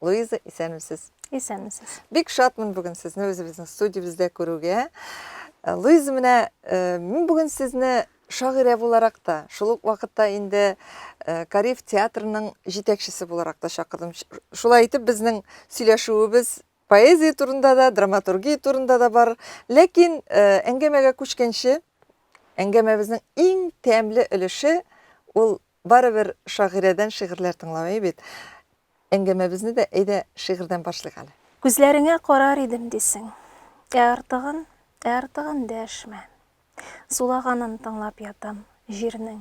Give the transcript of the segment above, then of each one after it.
Луиза, исәнмесез. Исәнмесез. Бик шатмын бүген сезне үзебезнең студиябездә күрүгә. Э, Луиза, менә э, мин бүген сезне шагыйрә буларак та, шул ук вакытта инде э, Кариф театрының җитәкчесе буларак та чакырдым. Шулай итеп безнең сөйләшүебез поэзия турында да, драматургия турында да бар. Ләкин әңгәмәгә күчкәнче, әңгәмәбезнең иң тәмле өлеше ул Барыбер шагыйрәдән шигырьләр тыңлау әйбит. Әңгәмәбезне дә әйдә шигырьдән башлыйк әле. Күзләреңә карар идем дисең. Ә артыгын, ә артыгын дәшмә. Сулаганын тыңлап ятам җирнең.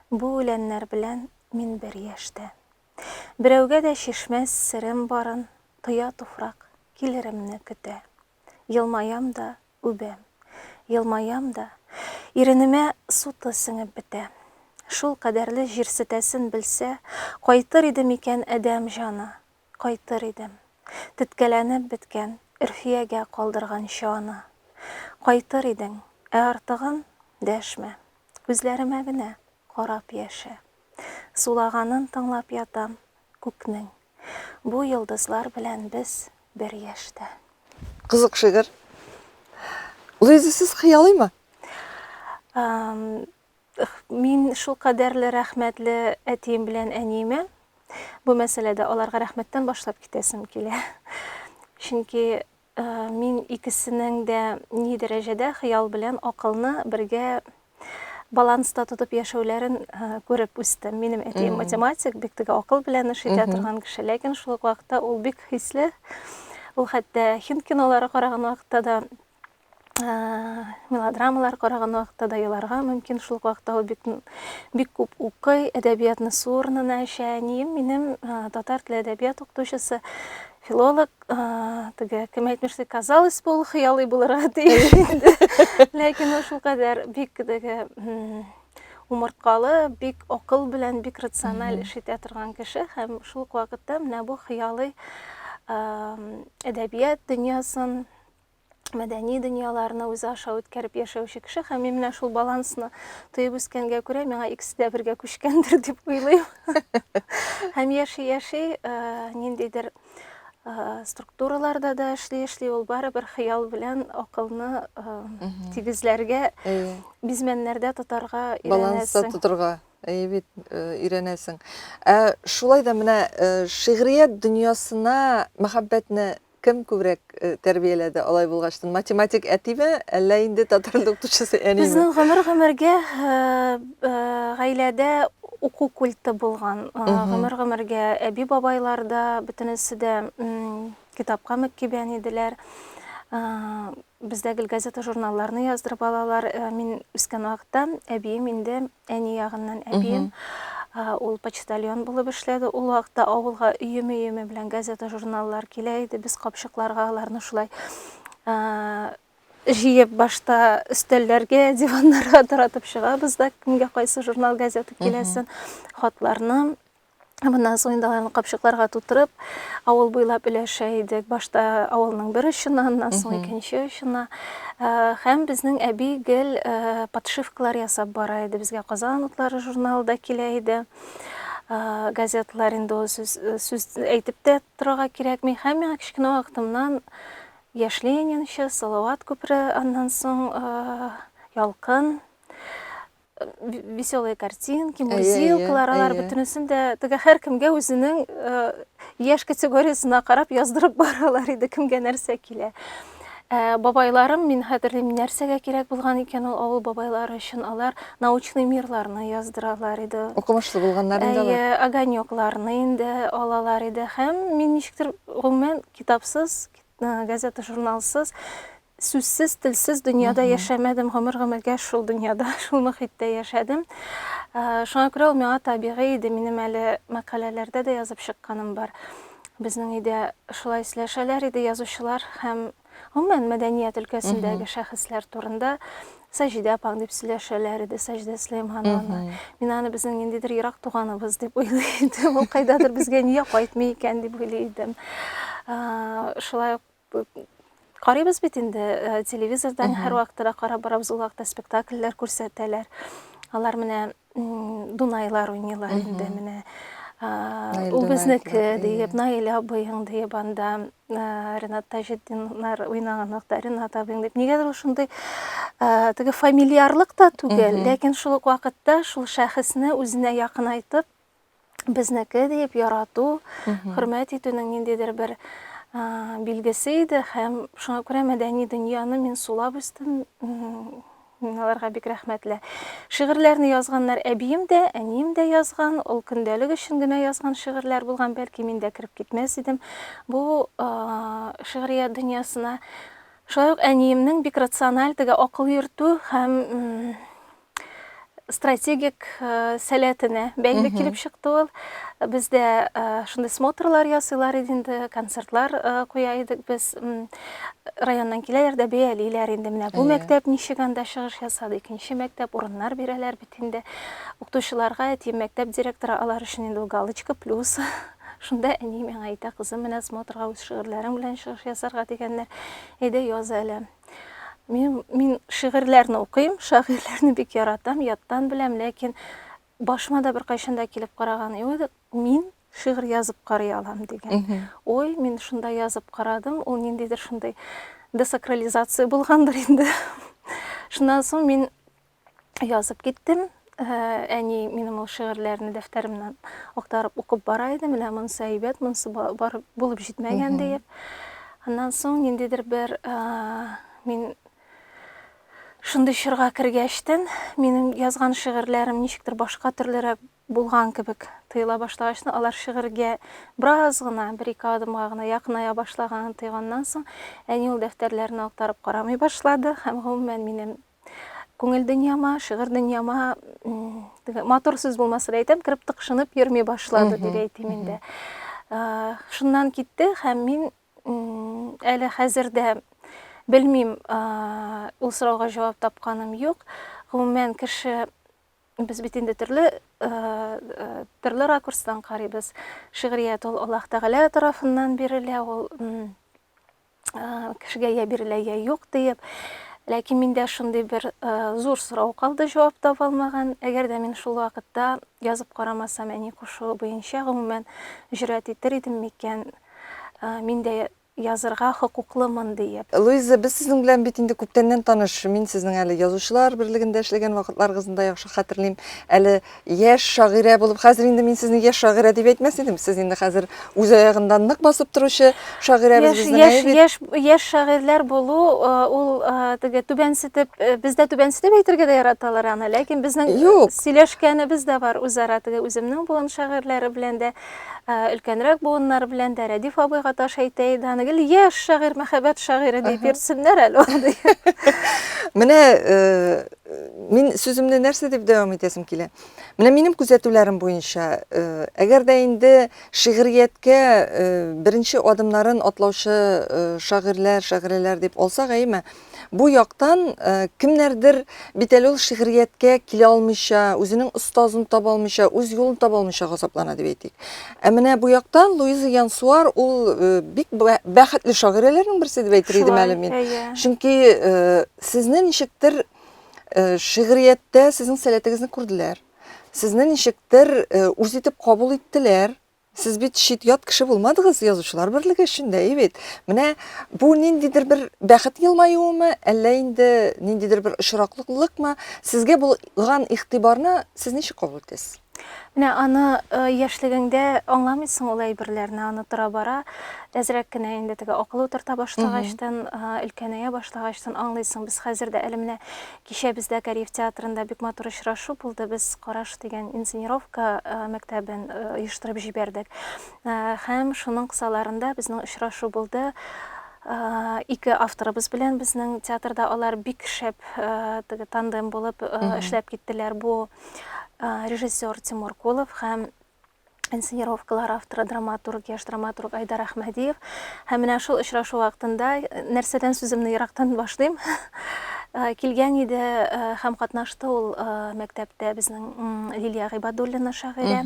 Бу үләннәр белән мин бер яшьтә. Берәүгә дә чишмәс серем барын, тоя туфрак, килеремне көтә. Елмаям да, үбәм. Елмаям да, иренемә суты сеңеп бетә. Шул кадәрле җирсетәсен белсә, кайтыр иде микән адәм җаны? Кайтыр идем. Теткәләнеп беткән Өрфиягә калдырганчы аны. Кайтыр идең, ә артыгын, дәшмә. Үзләремә генә. карап яшә. Сулаганын тыңлап ятам, күкнең. Бу йолдызлар белән без бер яшьтә. Кызык шигырь. Луиза, сез хыялыймы? Мин шулкадәрле рәхмәтле әтием белән әниемә. Бу мәсьәләдә аларга рәхмәттән башлап китәсем килә. Чөнки Мин икесенең дә ни дәрәҗәдә хыял белән акылны бергә баланста тотып яшәүләрен күреп үстем. Минем әтием математик, бик теге акыл белән эш итә торган кеше, ләкин шул ук вакытта ул бик хисле. Ул хәтта хинт кинолары караган вакытта да мелодрамалар караган вакытта да еларга мөмкин. Шул вакытта ул бик, бик күп укый, әдәбиятны су урынына эчә. Әнием минем татар теле әдәбият укытучысы, филолог, теге кем әйтмешли, казалось бы, ул хыялый булырга тиеш инде. Ләкин ул шулкадәр бик теге умырткалы, бик акыл белән, бик рациональ эш итә торган кеше һәм шул ук вакытта менә бу хыялый әдәбият дөньясын мәдәни дөньяларны үзе аша үткәреп яшәүче кеше һәм мин менә шул балансны тоеп үскәнгә күрә миңа икесе дә бергә күчкәндер дип уйлыйм һәм яши яши э, ниндидер э, структураларда да эшли эшли ул барыбер хыял белән акылны э, тигезләргә бизмәннәрдә тотарга баланста тотарга әйе бит өйрәнәсең ә шулай да менә шигърият дөньясына мәхәббәтне Кем күбрәк тәрбияләде алай булгачтын? Математик әтиме, әллә инде татар теле укытучысы әниме? Безнең гомер-гомергә гаиләдә уку культы булган. Гомер-гомергә әби-бабайлар да, бөтенесе дә китапка мөкибән иделәр. Бездә гел газета-журналларны яздырып алалар. Мин үскән вакытта әбием инде Әни ягыннан әбием, ул почтальон булып эшләде. Ул вакытта авылга өеме-өеме белән газета-журналлар килә иде. Без капчыкларга аларны шулай җыеп башта өстәлләргә диваннарга таратып чыгабыз да кемгә кайсы журнал газета киләсен хатларны Моннан соң инде аны капчыкларга тутырып, авыл буйлап өләшә идек. Башта авылның бер очына, аннан соң икенче очына. Э, һәм безнең әби гел э, подшивкалар ясап бара иде. Безгә Казан утлары журналы да килә иде. Э, газетлар инде ул сүз, сүз әйтеп тә торырга кирәкми. Һәм миңа кечкенә вакытымнан Яшь Ленинчы, Салават күпере, аннан соң Ялкын веселые картинки, мурзилкалар, алар бөтенесен дә теге һәркемгә үзенең яшь категориясенә карап яздырып баралар иде, кемгә нәрсә килә. Ә, бабайларым, мин хәтерлим, нәрсәгә кирәк булган икән ул авыл бабайлары өчен, алар научный мирларны яздыралар иде. Укымышлы булганнар инде алар. Әйе, огонекларны инде алалар иде һәм мин ничектер гомумән китапсыз, газета-журналсыз Сүзсез, телсез дөньяда яшәмәдем, гомер-гомергә шул дөньяда, шул мөхиттә яшәдем. Шуңа күрә ул миңа табигый иде, минем әле мәкаләләрдә дә язып чыкканым бар. Безнең өйдә шулай сөйләшәләр иде язучылар һәм гомумән мәдәният өлкәсендәге шәхесләр турында Саҗидә апаң дип сөйләшәләр иде, Саҗидә Сөләймановна. Мин аны безнең ниндидер ерак туганыбыз дип уйлый идем. Ул кайдадыр безгә нигә кайтмый икән дип уйлый идем. Шулай ук Карыйбыз бит инде э, телевизордан һәр вакытта да карап барабыз, ул вакытта спектакльләр күрсәтәләр. Алар менә Дунайлар уйныйлар инде менә. Ул безнеке диеп, Наилә абыең диеп анда э, Ренат Таҗетдиннар уйнаган вакытта Ренат абыең дип. Нигәдер ул шундый э, теге фамильярлык та түгел, ләкин шул ук вакытта шул шәхесне үзенә якынайтып безнеке диеп ярату, хөрмәт итүнең ниндидер бер билгесе иде һәм шуңа күрә мәдәни дөньяны мин сулап үстем. Мин аларга бик рәхмәтле. Шигырьләрне язганнар әбием дә, әнием дә язган. Ул көндәлек өчен генә язган шигырьләр булган, бәлки мин дә кереп китмәс идем. Бу шигърият дөньясына шулай ук әниемнең бик рациональ теге акыл йөртү һәм стратегик э, сәләтенә бәйле килеп чыкты ул. Бездә э, шундый смотрлар ясыйлар иде инде, концертлар э, куя идек без. Районнан киләләр дә бәялиләр инде менә бу мәктәп ничек анда чыгыш ясады, икенче мәктәп урыннар бирәләр бит инде. Укытучыларга әти мәктәп директоры алар өчен инде галочка плюс. Шунда әни миңа әйтә, кызым, менә смотрга үз шигырьләрең белән чыгыш ясарга дигәннәр. Әйдә яз әле. Мин, мин шигырьләрне укыйм, шагыйрьләрне бик яратам, яттан беләм, ләкин башыма да беркайчан да килеп караган юк. Мин шигырь язып карый алам дигән. Ой, мин шунда язып карадым, ул ниндидер шундый десакрализация булгандыр инде. Шуннан соң мин язып киттем. Әни минем ул шигырьләрне дәфтәремнән актарып укып бара иде. Менә монысы әйбәт, монысы бар булып җитмәгән диеп. Аннан соң ниндидер бер мин шундый чорга кергәчтен, минем язган шигырьләрем ничектер башка төрлерәк булган кебек тыела башлагачны алар шигырьгә бераз гына бер ике адымга гына якыная башлаганын тойганнан соң әни ул дәфтәрләрне актарып карамый башлады һәм гомумән минем Күңел дөньяма, шигырь дөньяма матур сүз булмаса да әйтәм, кереп тыкшынып йөрми башлады дип әйтим инде. Шуннан китте һәм мин әле хәзер дә белмим, ул сорауга җавап тапканым юк. Гомумән кеше без бит инде төрле төрле ракурстан карыйбыз. Шигърият ул Аллаһ Тәгалә тарафыннан бирелә, ул кешегә я бирелә, я юк диеп. Ләкин миндә шундый бер зур сорау калды, җавап таба алмаган. Әгәр дә мин шул вакытта язып карамасам, әни кушуы буенча, гомумән, җөрьәт итер идем микән? Мин дә язырга хокуклымын диеп. Луиза, без сезнең белән бит инде күптәннән таныш. Мин сезнең әле Язучылар берлегендә эшләгән вакытларыгызны да яхшы хәтерлим. Әле Яшь шагыйрә булып, хәзер инде мин сезне яшь шагыйрә дип әйтмәс идем. Сез инде хәзер үз аягында нык басып торучы шагыйрәбез Яшь, безнең яшь, әйбит. яшь, яшь шагыйрьләр булу, э, ул э, теге түбәнсетеп, э, бездә түбәнсетеп әйтергә дә яраталар аны, ләкин безнең э, Юк. сөйләшкәнебез дә бар үзара теге үземнең буын шагыйрьләре белән дә, э, өлкәнрәк буыннар белән дә, Рәдиф абыйга таш әйтә иде аны, гел яшь шагыйрь, мәхәббәт шагыйре дип йөртсеннәр әле аны. Менә э, Мин сүземне нәрсә дип дәвам итәсем килә? Менә минем күзәтүләрем буенча, э, әгәр дә инде шигърияткә э, беренче адымнарын атлаучы э, шагыйрьләр, шагыйрәләр дип алсак, әйме, бу яктан кемнәрдер бит әле ул шигърияткә килә алмыйча, үзенең остазын таба алмыйча, үз юлын таба алмыйча газаплана дип әйтик. Ә менә бу яктан Луиза Янсуар ул бик бәхетле шагыйрәләрнең берсе дип әйтер идем әле мин. Чөнки Сезне ничектер шигърияттә сезнең сәләтегезне күрделәр. Сезне ничектер үз итеп кабул иттеләр. Сез бит чит ят кеше булмадыгыз язучылар берлеге эшендә, и бит. Менә бу ниндидер бер бәхет елмаюымы, әллә инде ниндидер бер очраклыклыкмы? Сезгә булган игътибарны сез ничек кабул итәсез? Менә аны яшьлегеңдә аңламыйсың ул әйберләрне, аны тора-бара әзрәк кенә инде теге акыл утырта башлагачтан, өлкәнәя башлагачтан аңлыйсың. Без хәзер дә әле менә кичә бездә Кариев театрында бик матур очрашу булды. Без Караш дигән инсценировка мәктәбен оештырып җибәрдек. Һәм шуның кысаларында безнең очрашу булды. ике авторыбыз белән безнең театрда алар бик шәп теге тандем булып эшләп киттеләр. Бу режиссер Тимур Кулов һәм инсценировкалар авторы драматург яш драматург Айдар Ахмадиев һәм менә шул очрашу вакытында э, нәрсәдән сүземне ерактан башлыйм э, килгән иде э, һәм катнашты ул мәктәптә безнең Лилия Гыйбадуллина шагыйрә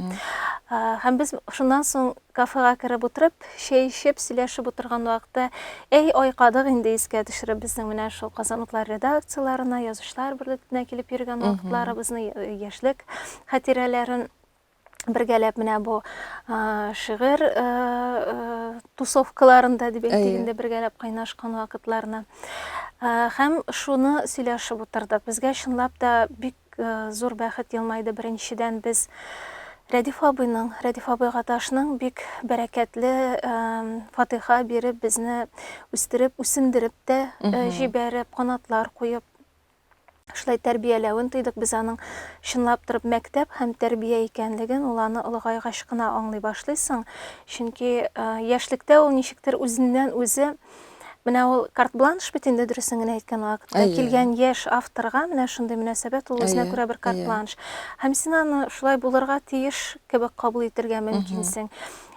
һәм без шуннан соң Кафега кереп утырып, чәй эчеп, сөйләшеп утырган вакыты, әй, айкадык инде, искә төшереп, безнең менә шул Казан утлары редакцияләренә, Язучылар берлегенә килеп йөргән вакытларыбызны, яшьлек хатирәләрен бергәләп менә бу шигырь тусовкаларында дип әйтик инде бергәләп кайнашкан вакытларны һәм шуны сөйләшеп утырдык безгә чынлап та бик Зур бәхет елмайды Беренчедән, без Рәдиф абыйның, Рәдиф абый Гаташның бик бәрәкәтле фатыйха биреп, безне үстереп, үсендереп тә җибәреп, канатлар куеп, шулай тәрбияләвен тойдык. Без аның чынлап торып мәктәп һәм тәрбия икәнлеген ул аны олыгайгач кына аңлый башлыйсың. Чөнки яшьлектә ул ничектер үзеннән-үзе Менә ул карт-бланш бит инде дөресен генә әйткән вакытта. Әйе. Килгән яшь авторга менә шундый мөнәсәбәт ул үзенә күрә бер карт-бланш. Һәм син аны шулай булырга тиеш кебек кабул итергә мөмкинсең.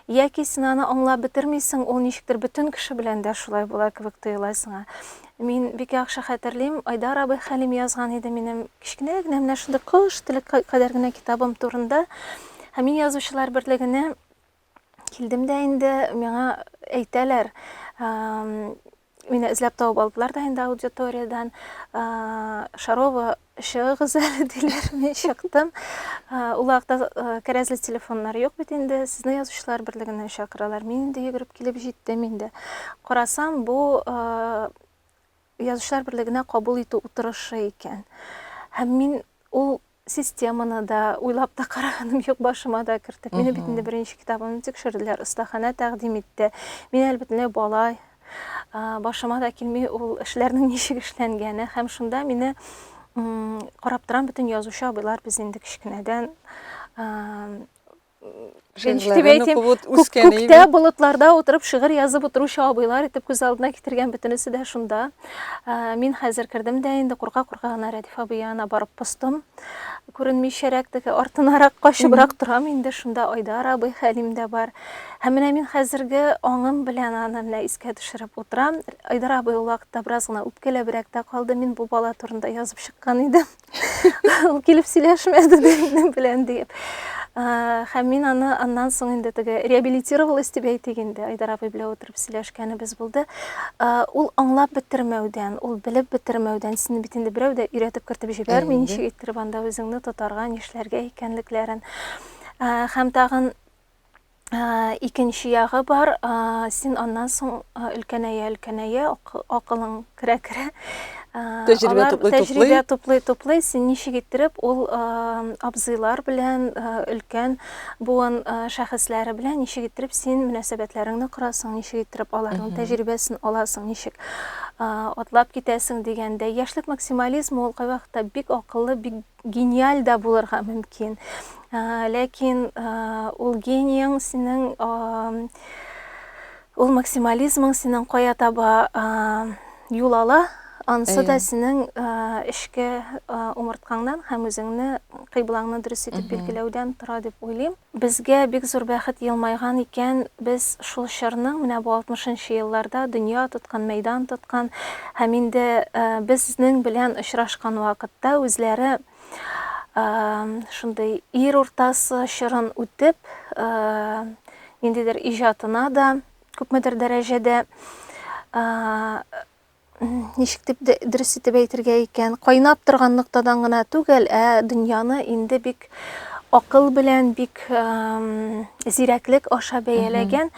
Яки син аны аңлап бетермисең, ул ничектер бөтен кеше белән дә шулай була кебек тоела сиңа. Мин бик яхшы хәтерлим, Айдар абый Хәлим язган иде минем кечкенә генә менә шундый кош теле кадәр генә китабым турында. Һәм мин язучылар берлегенә Килдем дә инде, миңа әйтәләр, мине эзләп табып алдылар да инде аудиториядан шарова чыгыгыз әле диләр мин чыктым ул вакытта кәрәзле телефоннар юк бит инде сезне язучылар берлегенә чакыралар мин инде йөгереп килеп җиттем инде карасам бу язучылар берлегенә кабул итү утырышы икән һәм мин ул Системаны да уйлап та караганым юк, башыма да кертеп. Мине бит инде беренче китабымны тикшерделәр, остаханә тәкъдим итте. Мин әле бөтенләй бала, башыма да килми ул эшләрнең ничек эшләнгәне һәм шунда мине карап торам бөтен язучы абыйлар без инде кечкенәдән Шигырьләре әйтим, укып ут- күк, үскәне күктә, иде. болытларда утырып шигырь язып утыручы абыйлар итеп күз алдына китергән бөтенесе дә шунда. Ә, Мин хәзер кердем дә инде курка-курка гына Рәдиф абый янына барып постым. Күренмичәрәк теге артынарак качыбрак торам инде, шунда Айдар абый, Хәлим дә бар. Һәм менә мин хәзерге аңым белән аны менә искә төшереп утырам. Айдар абый ул вакытта бераз гына үпкәләбрәк тә калды, мин бу бала турында язып чыккан идем. Ул килеп сөйләшмәде минем белән диеп. Һәм мин аны аннан соң инде теге реабилитировалась дип әйтик инде, Айдар абый белән утырып сөйләшкәнебез булды. Ул аңлап бетермәүдән, ул белеп бетермәүдән, сине бит инде берәү дә өйрәтеп кертеп җибәрми, ничек иттереп анда үзеңне тотарга, нишләргә икәнлекләрен. Һәм тагын икенче ягы бар син аннан соң өлкәнәя өлкәнәя акылың керә керә тәҗрибә туплый тәҗрибә туплый туплый син ничек иттереп ул абзыйлар белән өлкән буын шәхесләре белән ничек иттереп син мөнәсәбәтләреңне корасың ничек иттереп аларның тәҗрибәсен аласың ничек атлап китәсең дигәндә яшьлек максимализмы ул кайвакытта бик акыллы бик Гениаль да булырга мөмкин. Ләкин ул генияң синең, ул максимализмың синең кая таба юл ала, анысы да синең эшке умырткаңнан һәм үзеңне кыйблаңны дөрес итеп билгеләүдән тора дип уйлыйм. Безгә бик зур бәхет елмайган икән, без шул чорның, менә бу алтмышынчы елларда дөнья тоткан, мәйдан тоткан һәм инде безнең белән очрашкан вакытта үзләре шундый ир уртасы чорын үтеп, ниндидер иҗатына да күпмедер дәрәҗәдә ничек дип дөрес итеп әйтергә икән, кайнап торган ноктадан гына түгел, ә дөньяны инде бик акыл белән, бик зирәклек аша бәяләгән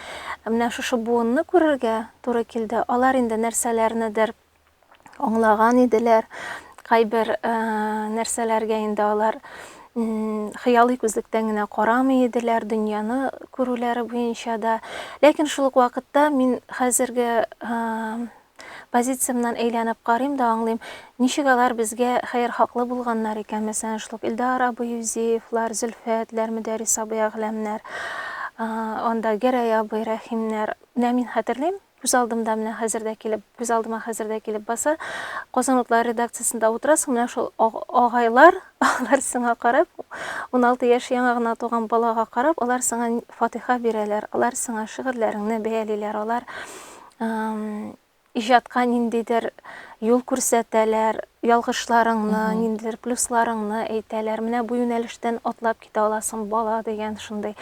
менә шушы буынны күрергә туры килде. Алар инде нәрсәләрнедер аңлаган иделәр, кайбер нәрсәләргә инде алар хыялый күзлектән генә карамый иделәр дөньяны күрүләре буенча да ләкин шул ук вакытта мин хәзерге позициямнан әйләнеп карыйм да аңлыйм ничек алар безгә хәер хаклы булганнар икән мәсәлән шул илдар абый юзеевлар зөлфәтләр мөдәрис абый әгъләмнәр анда гәрәй абый рәхимнәр менә мин хәтерлим Күз алдымда менә хәзер дә килеп, күз алдыма хәзер дә килеп баса. Казан утлары редакциясендә утырасың, менә шул агайлар, алар сиңа карап, 16 яше яңа гына туган балага карап, алар сиңа фатиха бирәләр, алар сиңа шигырьләреңне бәялиләр, алар иҗатка ниндидер юл күрсәтәләр, ялгышларыңны, ниндидер плюсларыңны әйтәләр. Менә бу юнәлештән атлап китә аласың, бала дигән шундый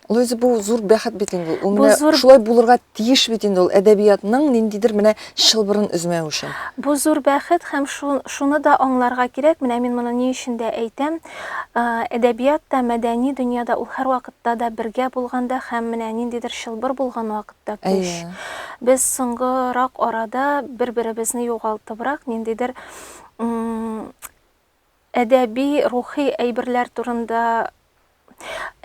Луиза, бу зур бәхет бит инде. Ул менә зур... шулай булырга тиеш бит инде ул әдәбиятның ниндидер менә чылбырын өзмәү өчен. Бу зур бәхет һәм шуны да аңларга кирәк, менә мин моны ни өчен дә әйтәм. Э, әдәбият та, мәдәни дөньяда ул һәрвакытта да бергә булганда һәм менә ниндидер чылбыр булган вакытта көч. Без соңгырак арада бер-беребезне югалтыбрак ниндидер Әдәби-рухи әйберләр турында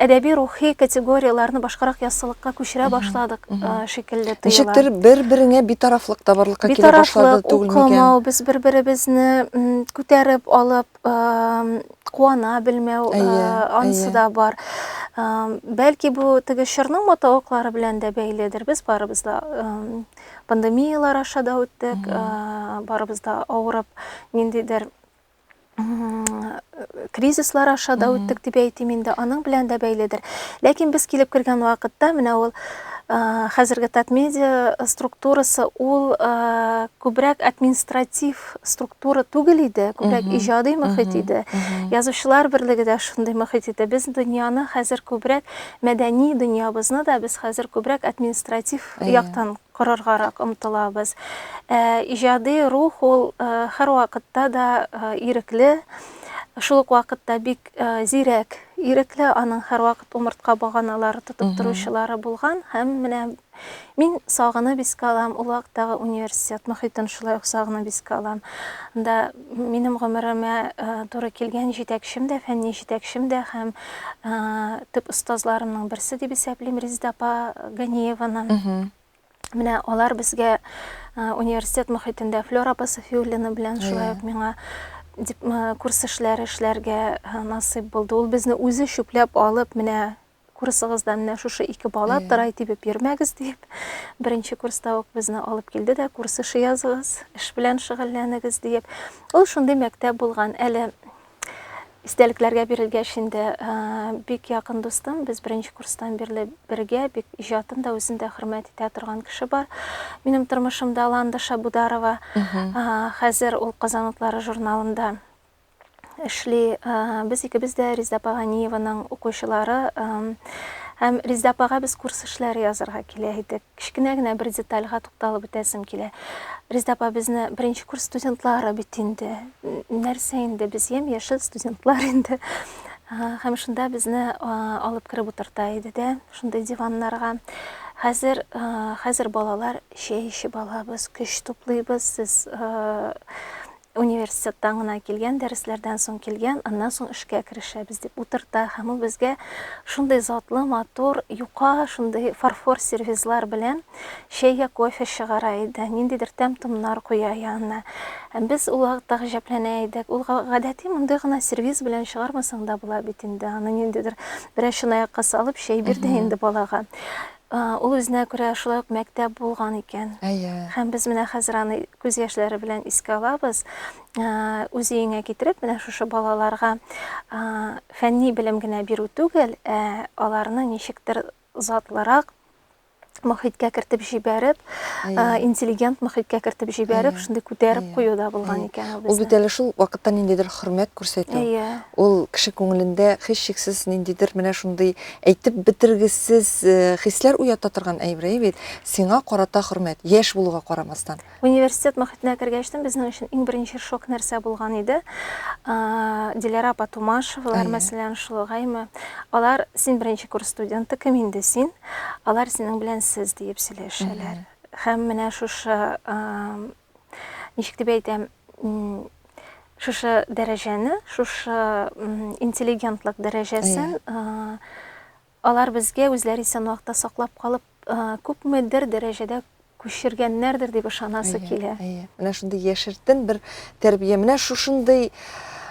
әдәби-рухи категорияләрне башкарак яссылыкка күчерә башладык шикелле тоела. Ничектер бер-береңә битарафлык та барлыкка килә башлады түгел микән? Укымау, без бер-беребезне күтәреп алып, куана белмәү, анысы да бар. Бәлки бу теге чорның матавыклары белән дә бәйледер. Без барыбыз да пандемиялар аша да үттек, барыбыз да авырып, ниндидер кризислар аша да үттек дип әйтим инде аның белән дә бәйледер ләкин без килеп кергән вакытта менә ул хәзерге татмедиа структурасы ул күбрәк административ структура түгел иде күбрәк иҗади мөхит иде язучылар берлеге дә шундый мөхит иде без дөньяны хәзер күбрәк мәдәни дөньябызны да без хәзер күбрәк административ яктан корыргарак омтылабыз. Ә иҗади рух ул һәрвакытта да ирекле, шул ук вакытта бик зирәк, ирекле, аның һәрвакыт умыртка баганалары тотып торучылары булган һәм менә мин сагынып искә алам, ул вакыттагы университет мохитен шулай ук сагынып искә алам. Анда Минем гомеремә туры килгән җитәкчем дә, фәнни җитәкчем дә һәм төп остазларымның берсе дип исәплим Резеда апа Ганиеваны. Менә алар безгә университет мөхитендә Флёр апа Софиуллина белән шулай ук миңа курс эшләре эшләргә насыйп булды. Ул безне үзе чүпләп алып, менә курсыгызда менә шушы ике бала тырай тибеп йөрмәгез дип, беренче курста ук безне алып килде дә, курс эше языгыз, эш белән шөгыльләнегез диеп. Ул шундый мәктәп булган. Әле истәлекләргә бирелгәч инде бик якын дустым, без беренче курстан бирле бергә, бик иҗатын да үзен дә хөрмәт итә торган кеше бар. Минем тормышымда Ланда Шабударова. Хәзер ул Казан утлары журналында эшли. Без икебез дә Резда апа Ганиеваның укучылары. Һәм Резда апага без курс эшләре язырга килә идек. Кечкенә генә бер детальга тукталып үтәсем килә. Резда апа безне беренче курс студентлары бит инде. Нәрсә инде без ем яшел студентлар инде. Һәм шунда безне алып кереп утырта иде дә, шундый диваннарга. Хәзер, хәзер балалар чәй эчеп алабыз, көч туплыйбыз, сез Университеттан гына килгән, дәресләрдән соң килгән, аннан соң эшкә керешәбез, дип утырта һәм ул безгә шундый затлы, матур, юка, шундый фарфор сервизлар белән чәй йә кофе чыгара иде, ниндидер тәм-томнар куя янына. Һәм без ул вакытта гаҗәпләнә идек. Ул гадәти мондый гына сервиз белән чыгармасаң да була бит инде, аны ниндидер берәр чынаякка салып чәй бир дә инде балага. Ул үзенә күрә шулай ук мәктәп булган икән. Әйе. Һәм без менә хәзер аны күз яшьләре белән искә алабыз. Үз өеңә китереп, менә шушы балаларга фәнни белем генә бирү түгел, ә аларны ничектер затлырак, мөхиткә кертеп җибәреп, интеллигент мөхиткә кертеп җибәреп, шундый күтәреп кую да булган икән ул безне. Ул бит әле шул вакытта ниндидер хөрмәт күрсәтү, ул кеше күңелендә һичшиксез ниндидер менә шундый Әйтеп бетергесез хисләр уята торган әйбрәй бит, сиңа карата хөрмәт, яшь булуга карамастан. Университет мохитенә кергәчтен безнең өчен иң беренче шок нәрсә булган иде? Диләрә апа Тумашевалар, мәсәлән, шулгаймы? Алар, син беренче курс студенты, кем инде син? Алар синең белән сез диеп сөйләшәләр. Һәм менә шушы ничек дип әйтәм, шушы дәрәҗәне, шушы интеллигентлык дәрәҗәсен алар безгә үзләре исән вакытта саклап калып, күпмедер дәрәҗәдә күчергәннәрдер дип ышанасы килә. Әйе. Менә шундый яшертен бер тәрбия. Менә шушындый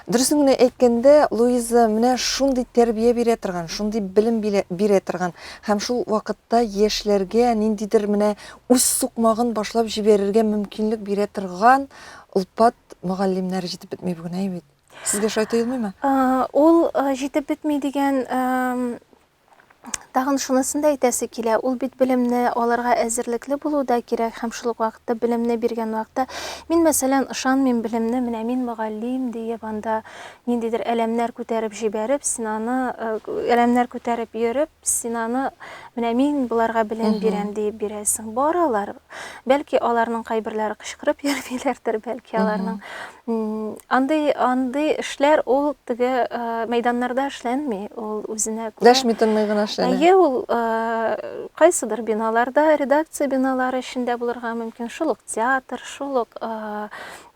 Дөресен генә әйткәндә, Луиза менә шундый тәрбия бирә торган, шундый белем бирә торган һәм шул вакытта яшьләргә ниндидер менә үз сукмагын башлап җибәрергә мөмкинлек бирә торган олпат мөгаллимнәр җитеп бетми бүген, әй бит. Сезгә шулай тоелмыймы? Ул җитеп бетми дигән тагын шунысын да әйтәсе килә, ул бит белемне алырга әзерлекле булу да кирәк һәм шул ук вакытта белемне биргән вакытта мин, мәсәлән, ышанмыйм белемне, менә мин мөгаллим диеп анда ниндидер әләмнәр күтәреп җибәреп, син аны әләмнәр күтәреп йөреп, Син аны, менә мин боларга белем бирәм, диеп бирәсең. Баралар. Бәлки, аларның кайберләре кычкырып йөрмиләрдер, бәлки, аларның андый, андый эшләр ул теге мәйданнарда эшләнми, ул үзенә күрә. Дәшми-тынмый гына эшләнә. Әйе, ул кайсыдыр биналарда, редакция биналары эчендә булырга мөмкин, шул ук театр, шул ук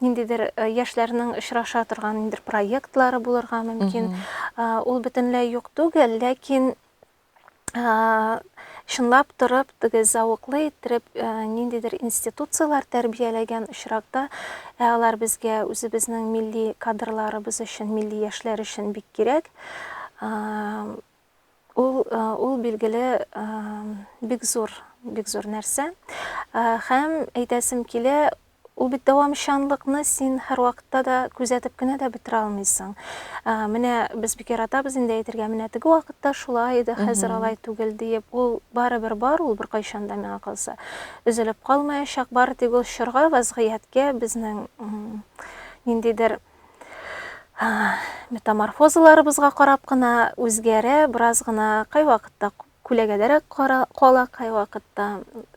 ниндидер яшьләрнең очраша торган ниндидер проектлары булырга мөмкин. Ул бөтенләй юк түгел, ләкин чынлап торып теге зәвыклы иттереп ниндидер институцияләр тәрбияләгән очракта ә алар безгә үзебезнең милли кадрларыбыз өчен милли яшьләр өчен бик кирәк Ул, ул билгеле, бик зур, бик зур нәрсә. Һәм әйтәсем килә, ул бит дәвамчанлыкны син һәрвакытта да күзәтеп кенә дә бетерә алмыйсың. Менә без бик яратабыз инде әйтергә, менә теге вакытта шулай иде, хәзер алай түгел диеп, ул барыбер бар, ул беркайчан да миңа калса өзелеп калмаячак, бары тик ул чорга, вазгыятькә, безнең ниндидер метаморфозаларыбызга карап кына үзгәрә, бераз гына кайвакытта күләгәдәрәк кала, кайвакытта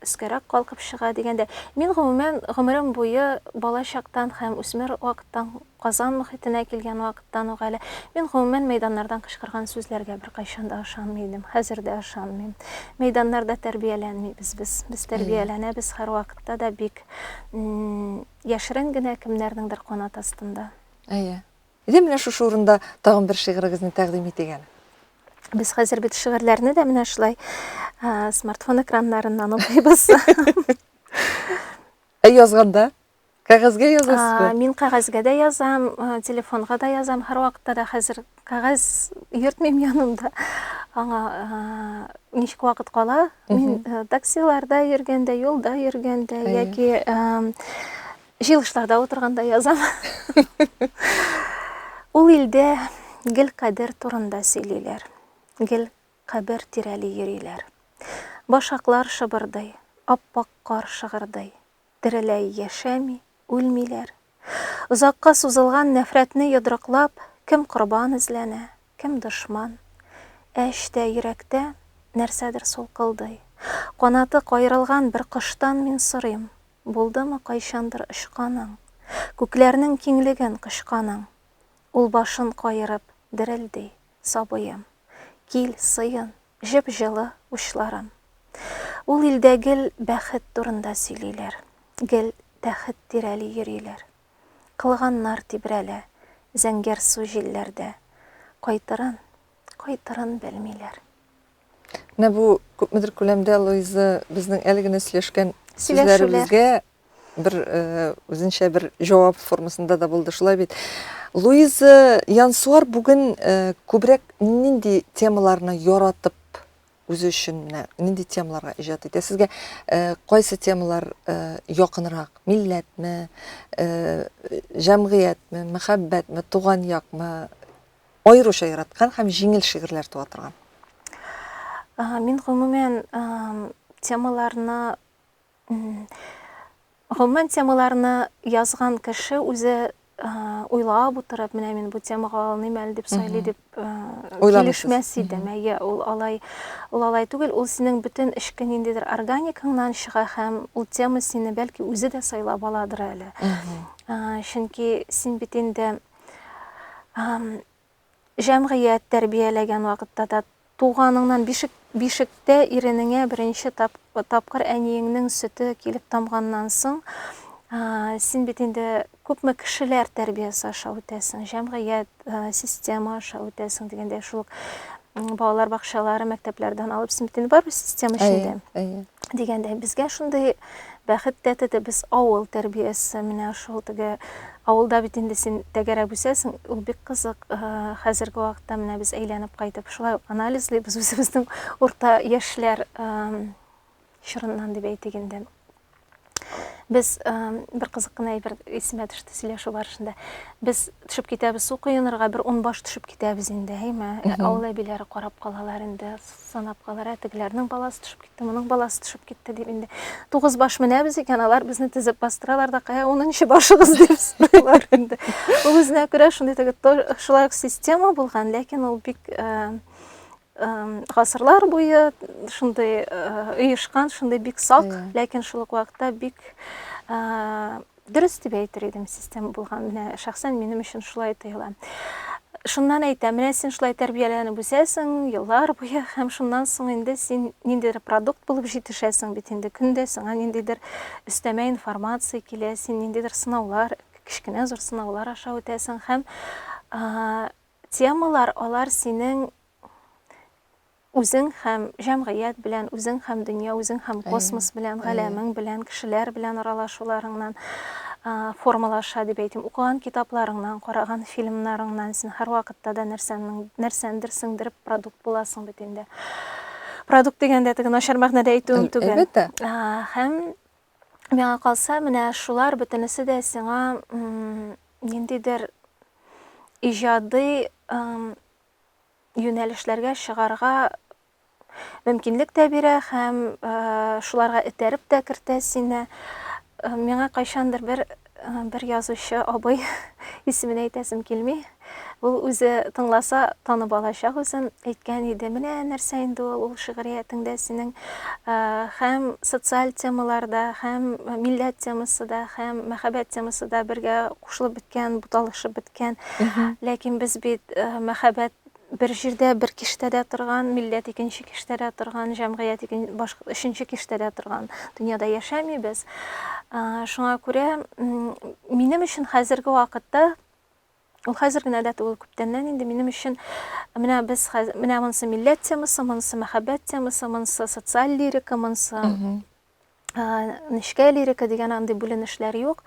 өскәрәк калкып чыга дигәндә. Мин гомумән гомерем буе бала чактан һәм үсмер вакыттан Казан мөхитенә килгән вакыттан ук әле мин гомумән мәйданнардан кычкырган сүзләргә беркайчан да ышанмый идем. Хәзер дә ышанмыйм. Мәйданнарда тәрбияләнмибез без. Без тәрбияләнәбез һәрвакытта да бик Яшерен генә кемнәрнеңдер канат астында. Әйе. Әйдә, менә шушы урында тагын бер шигырыгызны тәкъдим итик әле. Без хәзер бит шигырьләрне дә менә шулай смартфон экраннарыннан укыйбыз. Ә язганда? Кәгазьгә язасызмы? Мин кәгазьгә дә язам, телефонга да язам, һәрвакытта да хәзер Кәгазь йөртмим янымда. Аңа ничек вакыт кала? Мин таксиларда йөргәндә, юлда йөргәндә яки җыелышларда утырганда язам. Ул илдә гел кадер турында сөйлиләр. Гел кабер тирәли йөриләр. Башаклар шыбырдый, аппак кар шыгырдый. тереләй яшәми, үлмиләр. Озакка сузылган нәфрәтне йодрыклап, кем корбан эзләнә, кем дошман. Ә эчтә, йөрәктә нәрсәдер сулкылдый. Канаты каерылган бер коштан мин сорыйм, Булдымы кайчандыр очканың? Күкләрнең киңлеген кочканың? Ул башын каерып, дерелди. сабыем, Кил, сыен, җеп-җылы учларым. Ул илдә гел бәхет турында сөйлиләр, Гел тәхет тирәли йөриләр. Кылганнар тибрәлә, зәңгәрсу җилләрдә, Кайтырын, кайтырын белмиләр. Менә бу күпмедер күләмдә Луиза безнең әле генә сөйләшкән сүзләребезгә бер э, үзенчә бер җавап формасында да булды. Шулай бит. Луиза Янсуар бүген э, күбрәк нинди темаларны яратып үзе өчен менә нинди темаларга иҗат итә? Сезгә э, кайсы темалар э, якынрак? Милләтме, э, җәмгыятьме, мәхәббәтме, туган якмы? аеруча яраткан һәм җиңел шигырьләр туа торган? Мин гомумән темаларны гомумән темаларны язган кеше үзе уйлап утырып, менә мин бу темага алыным әле дип сайлый дип килешмәс идем. Әйе, ул алай, ул алай түгел, ул синең бөтен эчке ниндидер органикаңнан чыга һәм ул тема сине бәлки үзе дә сайлап аладыр әле. Чөнки син бит инде Җәмгыять тәрбияләгән вакытта да туганыңнан бишек, бишектә иренеңә беренче тап, тапкыр әниеңнең сөте килеп тамганнан соң, ә, син бит инде күпме кешеләр тәрбиясе аша үтәсең, җәмгыять, ә, система аша үтәсең дигәндә шул балалар бакчалары, мәктәпләрдән алып син бит инде бар система эчендә. Әйе, әйе. Дигәндә безгә шундый бәхет тәтеде, без авыл тәрбиясе, менә шул теге Авылда бит инде син тәгәрәп үсәсең, ул бик кызык. Хәзерге вакытта менә без әйләнеп кайтып шулай ук анализлыйбыз үзебезнең урта яшьләр чорыннан дип әйтик инде. Без бер кызык кына әйбер исемә төште сөйләшү барышында. Без төшеп китәбез су коенырга, бер ун баш төшеп китәбез инде, әйме? Авыл әбиләре карап калалар инде, санап калалар, ә тегеләрнең баласы төшеп Моның баласы төшеп китте дип инде. Тугыз баш менәбез икән, алар безне тезеп бастыралар да, кая унынчы башыгыз дип сорыйлар инде. Ул үзенә күрә шундый теге шулай ук система булган, ләкин ул бик гасырлар буе шундый оешкан, шундый бик сак, ләкин шул ук вакытта бик Дөрес дип әйтер идем, система булган. Менә шәхсән минем өчен шулай тоела. Шуннан әйтә, менә син шулай тәрбияләнеп үсәсең, еллар буе, һәм шуннан соң инде син ниндидер продукт булып җитешәсең бит инде. Көндә сиңа ниндидер өстәмә информация килә, син ниндидер сынаулар, кечкенә зур сынаулар аша үтәсең һәм темалар алар синең Үзең һәм җәмгыять белән, үзең һәм дөнья, үзең һәм космос белән, галәмең белән, кешеләр белән аралашуларыңнан формалаша дип әйтим. Укыган китапларыңнан, караган фильмнарыңнан син һәрвакытта да нәрсәндер сеңдереп продукт буласың бит инде. Продукт дигәндә теге начар мәгънәдә әйтүем түгел. Әлбәттә. Һәм миңа калса, менә шулар бөтенесе дә сиңа ниндидер иҗади юнәлешләргә чыгарга мөмкинлек тә бирә һәм шуларга этәреп тә кертә сине. Миңа кайчандыр бер бер язучы абый исемен әйтәсем килми. Ул үзе тыңласа танып алачак үзен. Әйткән иде, менә нәрсә инде ул, ул шигъриятеңдә синең һәм социаль темаларда, һәм милләт темасы да, һәм мәхәббәт темасы да бергә кушылып беткән, буталышып беткән. икән. Ләкин без бит мәхәббәт бер җирдә, бер киштәдә торган, милләт икенче киштәдә торган, җәмгыять икенче башка өченче киштәдә торган дөньяда яшәмибез. Шуңа күрә минем өчен хәзерге вакытта ул хәзер генә дә түгел, күптәннән инде минем өчен менә без менә монысы милләт темасы, монысы мәхәббәт темасы, монысы социаль лирика, монысы нечкә лирика дигән андый бүленешләр юк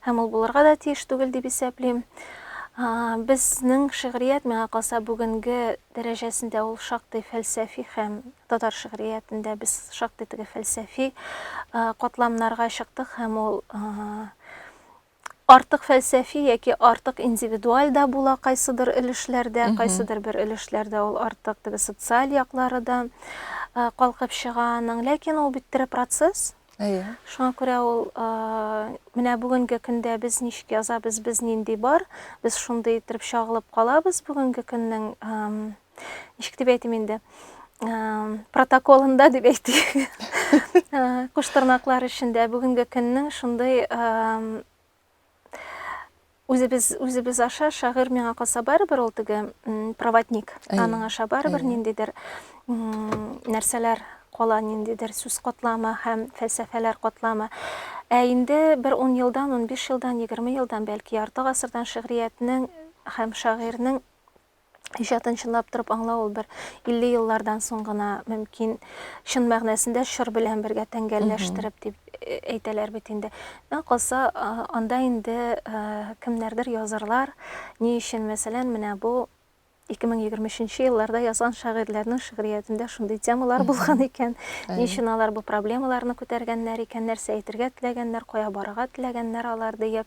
һәм ул булырга да тиеш түгел дип исәплим безнең шигърият миңа калса бүгенге дәрәҗәсендә ул шактый фәлсәфи һәм татар шигъриятендә без шактый теге фәлсәфи катламнарга чыктык һәм ул Артык фәлсәфи яки артык индивидуаль дә була кайсыдыр өлешләрдә, кайсыдыр бер өлешләрдә ул артык теге социаль яклары да калкып чыга аның. Ләкин ул бит тере процесс. Әйе. Шуңа күрә ул менә бүгенге көндә без ничек язабыз, без нинди бар, без шундый итеп чагылып калабыз бүгенге көннең ничек дип әйтим инде протоколында дип әйтик кош тырнаклар эчендә бүгенге көннең шундый үзебез үзебез аша шагыйрь миңа калса барыбер ул теге проводник аның аша барыбер ниндидер нәрсәләр кала ниндидер сүз катламы һәм фәлсәфәләр катламы ә инде бер ун елдан ун биш елдан егерме елдан бәлки ярты гасырдан шигъриятнең һәм шагыйрьнең Иҗатын чынлап торып аңлау ул бер 50 еллардан соң гына мөмкин чын мәгънәсендә чор белән бергә тәңгәлләштереп дип э, әйтәләр бит инде. Миңа калса, анда инде э, кемнәрдер язырлар. Ни өчен, мәсәлән, менә бу 2023 елларда язган шагыйрьләрнең шигъриятендә шундый темалар булган икән. Ни өчен алар бу проблемаларны күтәргәннәр икән, нәрсә әйтергә теләгәннәр, кая барырга теләгәннәр алар диеп.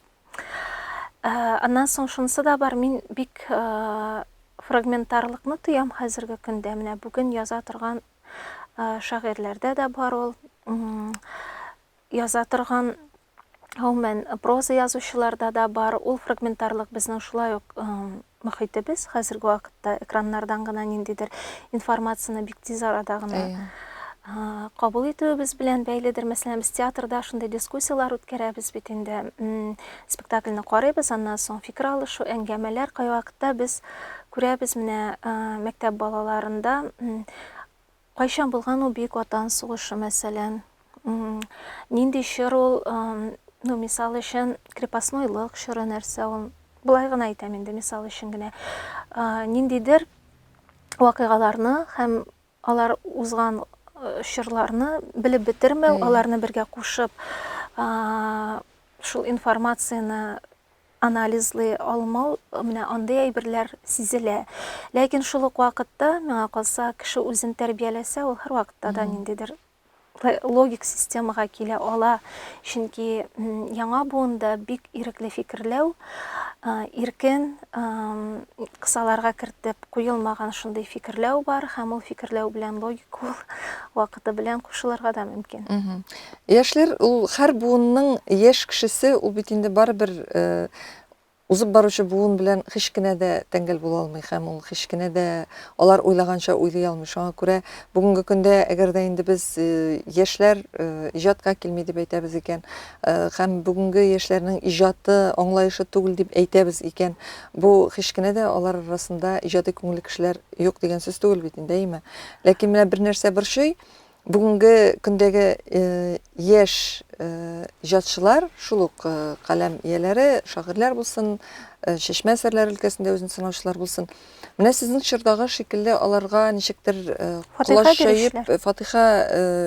Ә, аннан соң шунысы да бар, мин бик ә, фрагментарлыкны тоям хәзерге көндә. Менә бүген яза торган ә, шагыйрьләрдә дә бар ул. Яза торган гомумән проза язучыларда да бар. Ул фрагментарлык безнең шулай ук Мохитебез хәзерге вакытта экраннардан гына ниндидер информацияне бик тиз арада гына кабул итүебез белән бәйледер. Мәсәлән, без театрда шундый дискуссияләр үткәрәбез бит инде. Спектакльне карыйбыз, аннан соң фикер алышу, әңгәмәләр кайвакытта без күрәбез менә мәктәп балаларында Кайчан булган ул Бөек Ватан сугышы, мәсәлән? Нинди чор ул? Ну, мисал өчен, крепостнойлык чоры нәрсә ул? Болай гына әйтәм инде, мисал өчен генә. Ниндидер вакыйгаларны һәм алар узган чорларны белеп бетермәү, аларны бергә кушып, шул информацияне анализлый алмау, менә андый әйберләр сизелә. Ләкин шул ук вакытта, миңа калса, кеше үзен тәрбияләсә, ул һәрвакытта да ниндидер логик системага килә ала. Чөнки яңа буында бик ирекле фикерләү, иркен, кысаларга кертеп куелмаган шундый фикерләү бар һәм ул фикерләү белән логик ул вакыты белән кушылырга да мөмкин. Яшьләр ул һәр буынның яшь кешесе, ул бит инде барыбер узып баручы буын белән һич кенә дә тәңгәл була алмый һәм ул һич кенә дә алар уйлаганча уйлый алмый. Шуңа күрә бүгенге көндә, әгәр дә инде без яшьләр иҗатка килми дип әйтәбез икән һәм бүгенге яшьләрнең иҗаты аңлаешлы түгел дип әйтәбез икән, бу һич кенә дә алар арасында иҗади күңелле кешеләр юк дигән сүз түгел бит инде, әйеме? Ләкин менә бер нәрсә борчый, Бүгенге көндәге яшь иҗатчылар, шул ук каләм ияләре, шагыйрьләр булсын, Чәчмә әсәрләре өлкәсендә үзен сынаучылар булсын, менә сезнең чордагы шикелле аларга ничектер колач җәеп, фатыйха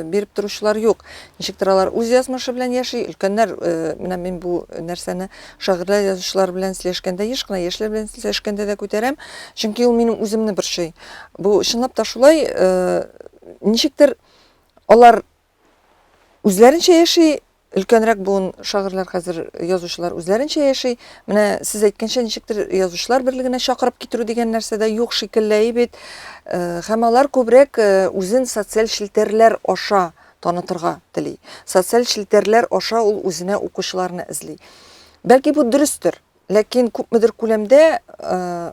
биреп торучылар юк. Ничектер алар үз язмышы белән яши, өлкәннәр, менә мин бу нәрсәне шагыйрьләр, язучылар белән сөйләшкәндә еш кына, яшьләр белән сөйләшкәндә дә күтәрәм, чөнки ул минем үземне борчый. Бу чынлап та шулай, Ничектер алар үзләренчә яши, өлкәнрәк буын шагыйрьләр хәзер язучылар үзләренчә яши. Менә сез әйткәнчә ничектер язучылар берлегенә чакырып китерү дигән нәрсә дә юк шикелле бит. Э, һәм алар күбрәк э, үзен социаль челтәрләр аша танытырга тели. Социаль челтәрләр аша ул үзенә укучыларны эзли. Бәлки бу дөрестер, ләкин күпмедер күләмдә э,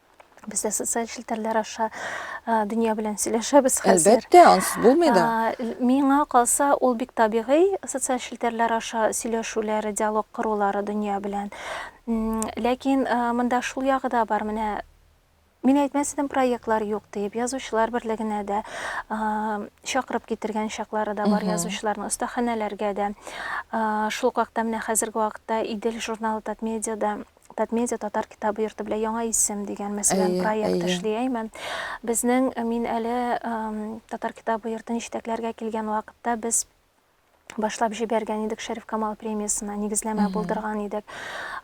Без дә социаль челтәрләр аша дөнья белән сөйләшәбез хәзер. Әлбәттә, ансыз булмый да. Миңа калса, ул бик табигый социаль челтәрләр аша сөйләшүләре, диалог корулары дөнья белән. Ләкин монда шул ягы да бар, менә Мин әйтмәс идем, проектлар юк диеп, язучылар берлегенә дә чакырып китергән чаклары да бар язучыларның, остаханәләргә дә. Шул вакытта менә хәзерге вакытта Идел журналы Татмедиада Татмедиа татар китабы йорты белән яңа исем дигән мәсәлән проект эшли әйме безнең э, мин әле татар китабы йортын җитәкләргә килгән вакытта без башлап җибәргән идек шәриф камал премиясына нигезләмә булдырган идек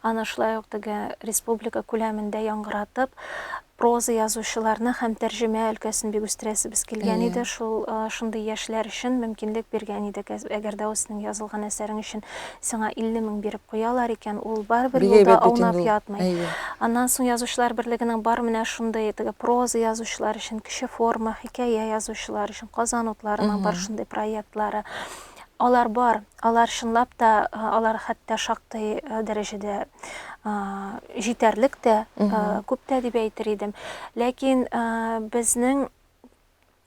аны шулай ук теге республика күләмендә яңгыратып Проза язучыларны һәм тәрҗемә өлкәсен бик үстерәсебез килгән иде. Әйе. Шул шундый яшьләр өчен мөмкинлек биргән идек. Әгәр дә үзенең язылган әсәрең өчен сиңа 50 мең биреп куялар икән, ул барыбер Бик юлда әйбәт бит инде аунап ул. ятмый. Әйе. Аннан соң Язучылар берлегенең бар менә шундый теге проза язучылар өчен, кече форма, хикәя язучылар өчен, Казан утларының бар шундый проектлары. Алар бар. Алар чынлап та, алар хәтта шактый дәрәҗәдә җитәрлек тә, күп тә дип әйтер идем. Ләкин безнең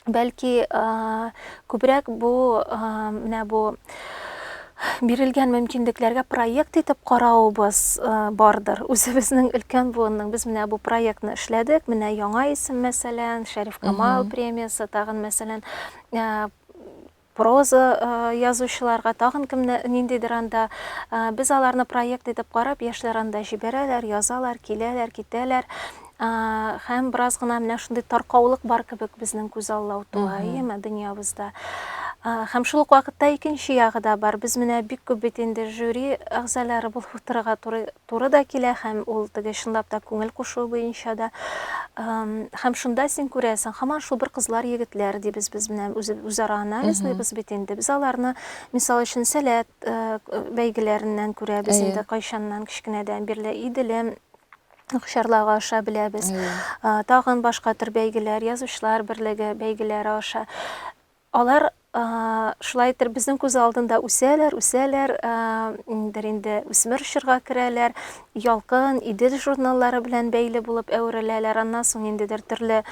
бәлки күбрәк бу менә бу бирелгән мөмкинлекләргә проект итеп каравыбыз бардыр. Үзебезнең өлкән буынның без менә бу проектны эшләдек. Менә яңа исем мәсәлән, Шәриф Камал премиясе, тагын мәсәлән Проза язучыларга тагын кемне ниндидер анда без аларны проект итеп карап, яшьләр анда җибәрәләр, язалар, киләләр, китәләр. Һәм бераз гына менә шундый таркаулык бар кебек безнең күз алла утуа, әйеме, дөньябызда. Һәм шул ук вакытта икенче ягы да бар. Без менә бик күп бит инде жюри әгъзалары булып утырырга туры туры да килә һәм ул теге чынлап та күңел кушуы буенча да һәм шунда син күрәсең һаман шул бер кызлар егетләр дибез без менә үзара анализлыйбыз бит инде без аларны мисал өчен сәләт э, бәйгеләреннән күрәбез инде кайчаннан кечкенәдән бирле иделем Акчарлага аша беләбез. Тагын башка төр бәйгеләр, язучылар берлеге бәйгеләре аша. Алар шулай итеп безнең күз алдында үсәләр, үсәләр, индер инде үсмер чорга керәләр, Ялкын, Идел журналлары белән бәйле булып әвереләләр. Аннан соң ниндидер төрле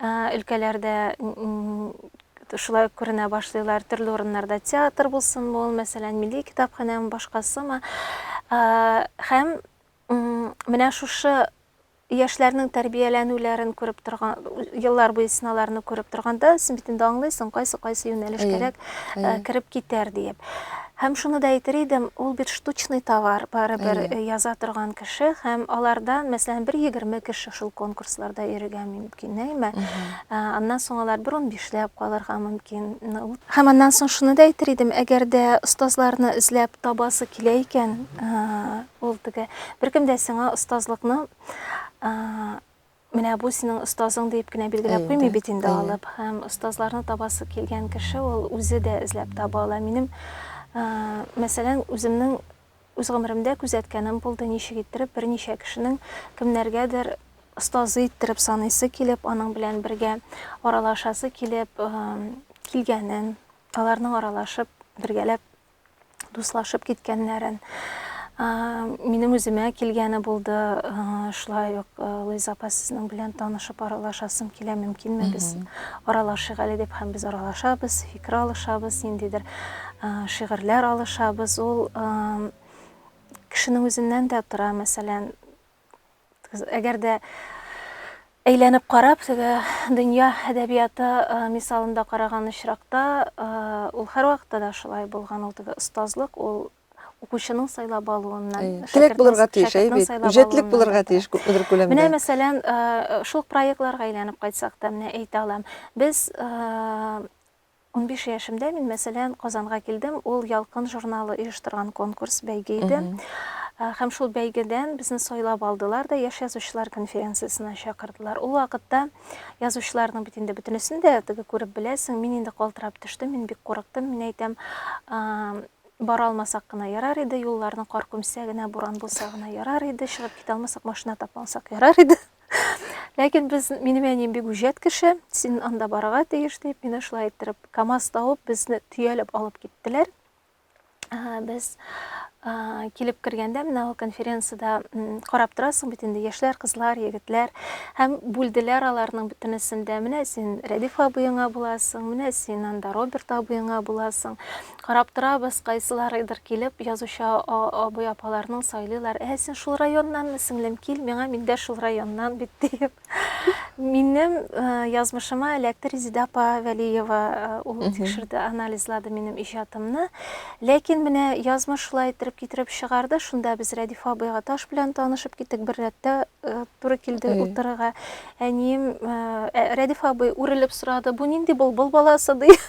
өлкәләрдә шулай күренә башлыйлар. Төрле урыннарда театр булсынмы ул, мәсәлән, милли китапханәме, башкасымы. Һәм Менә шушы яшьләрнең тәрбияләнүләрен күреп торган, еллар буе сынауларны күреп торганда, син бит инде аңлыйсың, кайсы кайсы юнәлеш кирәк, э, кереп китәр диеп. Һәм шуны да әйтер идем, ул бит штучный товар, барыбер э, яза торган кеше һәм алардан, мәсәлән, бер егерме кеше шул конкурсларда йөрергә мөмкин, әйме? Э, аннан соң алар бер унбишләп калырга мөмкин. Һәм аннан соң шуны да әйтер идем, әгәр дә остазларны эзләп табасы килә икән, э, Ул теге беркем дә сиңа остазлыкны менә бу синең остазың дип кенә билгеләп куймый бит инде алып. Һәм остазларны табасы килгән кеше ул үзе дә эзләп таба ала. Минем мәсәлән, үземнең үз гомеремдә күзәткәнем булды, ничек иттереп берничә кешенең кемнәргәдер остазы иттереп саныйсы килеп, аның белән бергә аралашасы килеп килгәнен, аларның аралашып бергәләп дуслашып киткәннәрен минем үземә килгәне булды шулай ук луиза апа сезнең белән танышып аралашасым килә мөмкинме без аралашыйк әле дип һәм без аралашабыз фикер алышабыз ниндидер шигырьләр алышабыз ул кешенең үзеннән дә тора мәсәлән Әгәр дә әйләнеп карап, теге дөнья әдәбияты э, мисалында караган очракта, э, ул һәрвакытта да шулай булган, ул теге остазлык, ул укучының сайлап алуыннан э, теләк булырга тиеш әйбит үҗәтлек булырга тиеш күпмедер күләмдә менә мәсәлән э, шул проектларга әйләнеп кайтсак та менә әйтә алам без э, Унбиш яшемдә мин, мәсәлән, Казанга килдем, ул Ялкын журналы оештырган конкурс, бәйге иде. Һәм шул бәйгедән безне сайлап алдылар да Яшь язучылар конференциясенә чакырдылар. Ул вакытта язучыларның бит инде бөтенесен дә теге күреп беләсең, мин инде калтырап төштем, мин бик курыктым, мин әйтәм, бара алмасак кына ярар иде, юлларны кар күмсә генә, буран булса гына ярар иде, чыгып китә алмасак, машина тапмасак ярар иде. Ләкин без, минем әнием бик үҗәт кеше, син анда барырга тиеш дип, мине шулай иттереп, КАМАЗ табып, безне төялеп алып киттеләр. Ә, Без а, килеп кергәндә менә ул конференцияда м, карап торасың бит инде яшьләр, кызлар, егетләр һәм бүлделәр аларның бөтенесен дә. Менә син Рәдиф абыеңа буласың, менә син анда Роберт абыеңа буласың. Карап торабыз, кайсыларыдыр килеп, язучы абый-апаларның сайлыйлар, Ә, син шул районнанмы, сеңлем, кил миңа, мин дә шул районнан бит, диеп. Минем язмышыма эләкте Резеда апа Вәлиева, ул тикшерде, анализлады минем иҗатымны. Ләкин менә язмыш шулай иттереп китереп чыгарды, шунда без Рәдиф абыйга таш белән танышып киттек, бер рәттә туры килде утырырга. Әнием, Рәдиф абый үрелеп сорады, бу нинди былбыл баласы, диеп.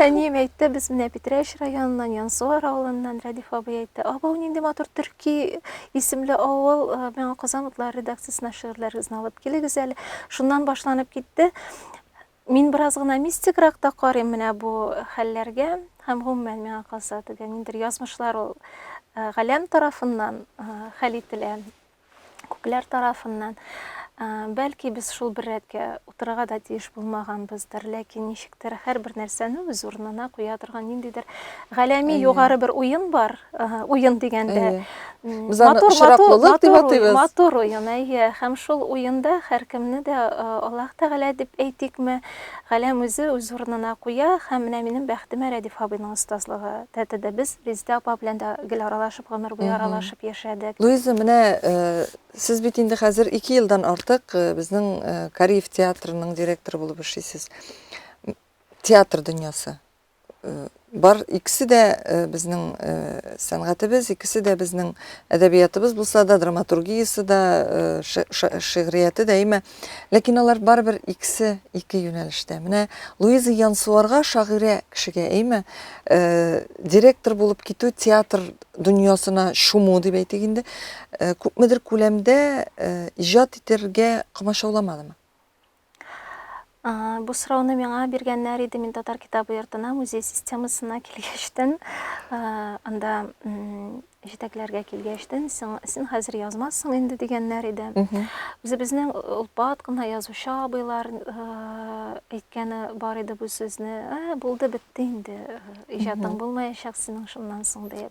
Әнием әйтте, без менә Питрәч районыннан, Янсуар авылыннан, Рәдиф абый әйтте. Абау нинди матур төрки исемле авыл, э, миңа Казан утлары редакциясенә шигырьләрегезне алып килегез әле. Шуннан башланып китте. Мин бераз гына мистикрак та карыйм менә бу хәлләргә һәм гомумән миңа калса тегә ниндер язмышлар ул э, галәм тарафыннан э, хәл ителә. күпләр тарафыннан. Ә, бәлки без шул бер рәткә утырырга да тиеш булмаганбыздыр, ләкин ничектер һәрбер нәрсәне үз урынына куя торган ниндидер галәми Әйе. югары бер уен бар, Ага, уен дигәндә. Әйе. м, Без аны матур, матур, очраклылык дип матур, уен, атыйбыз. матур уен, әйе. Һәм шул уенда һәркемне дә, э, Аллаһ Тәгалә дип әйтикме, Галәм үзе үз урынына куя һәм менә минем бәхетемә Рәдиф абыйның остазлыгы тәтеде. Без Резидә апа белән дә гел аралашып, гомер буе аралашып яшәдек. Луиза, менә Сез бит инде хәзер ике елдан артык безнең Кариев театрының директоры булып эшлисез. Театр дөньясы, бар икесе дә безнең сәнгатебез икесе дә безнең әдәбиятыбыз булса да драматургиясе дә шигърияте дә әйме ләкин алар барыбер икесе ике юнәлештә менә луиза янсуарга шагыйрә кешегә әйме директор булып китү театр дөньясына чуму дип әйтик инде күпмедер күләмдә иҗат итәргә комачауламадымы Бу сорауны миңа биргәннәр иде. Мин татар китабы йортына, музей системасына килгәчтен, анда җитәкләргә килгәчтен, син хәзер язмассың инде дигәннәр иде. Үзебезнең олпат кына язучы абыйлар әйткәне бар иде бу сүзне. Ә, булды, бетте инде, иҗатың булмаячак синең шуннан соң диеп.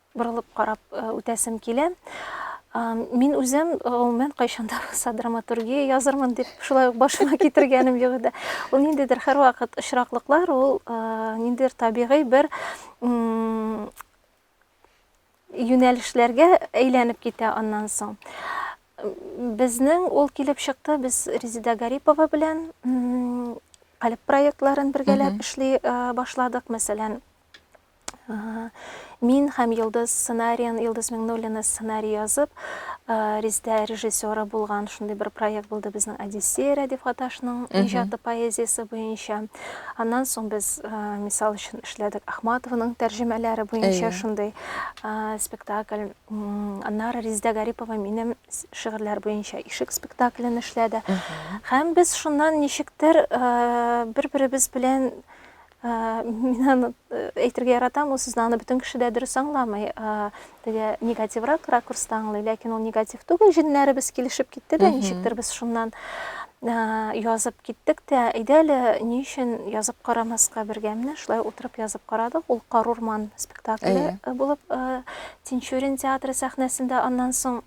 Борылып карап үтәсем килә. Мин үзем, гомумән, кайчан да булса драматургия язырмын дип, шулай ук башыма китергәнем юк иде. Ул ниндидер һәрвакыт очраклыклар, ул ниндидер табигый бер юнәлешләргә әйләнеп китә аннан соң. Безнең ул килеп чыкты, без Резида Гарипова белән калеб проектларын бергәләп эшли башладык, мәсәлән, Мин һәм Йолдыз сценариен, Йолдыз Миңнуллина сценарий язып, Риздә режиссеры булган шундый бер проект булды безнең Одиссея Рәдиф Гаташның иҗаты поэзиясе буенча. Аннан соң без, мисал өчен, эшләдек Ахматованың тәрҗемәләре буенча шундый спектакль. Аннары Риздә Гарипова минем шигырьләр буенча Ишек спектаклен эшләде. Һәм без шуннан ничектер бер-беребез белән Мин аны әйтергә яратам, ул сүзне аны бөтен кеше дә дөрес аңламый. Теге негативрак ракурста аңлый, ләкин ул негатив түгел, җеннәребез килешеп китте дә, ничектер без шуннан язып киттек тә, әйдә әле ни өчен язып карамаска бергә. Менә шулай утырып язып карадык. Ул Карурман спектакле булып Тинчурин театры сәхнәсендә аннан соң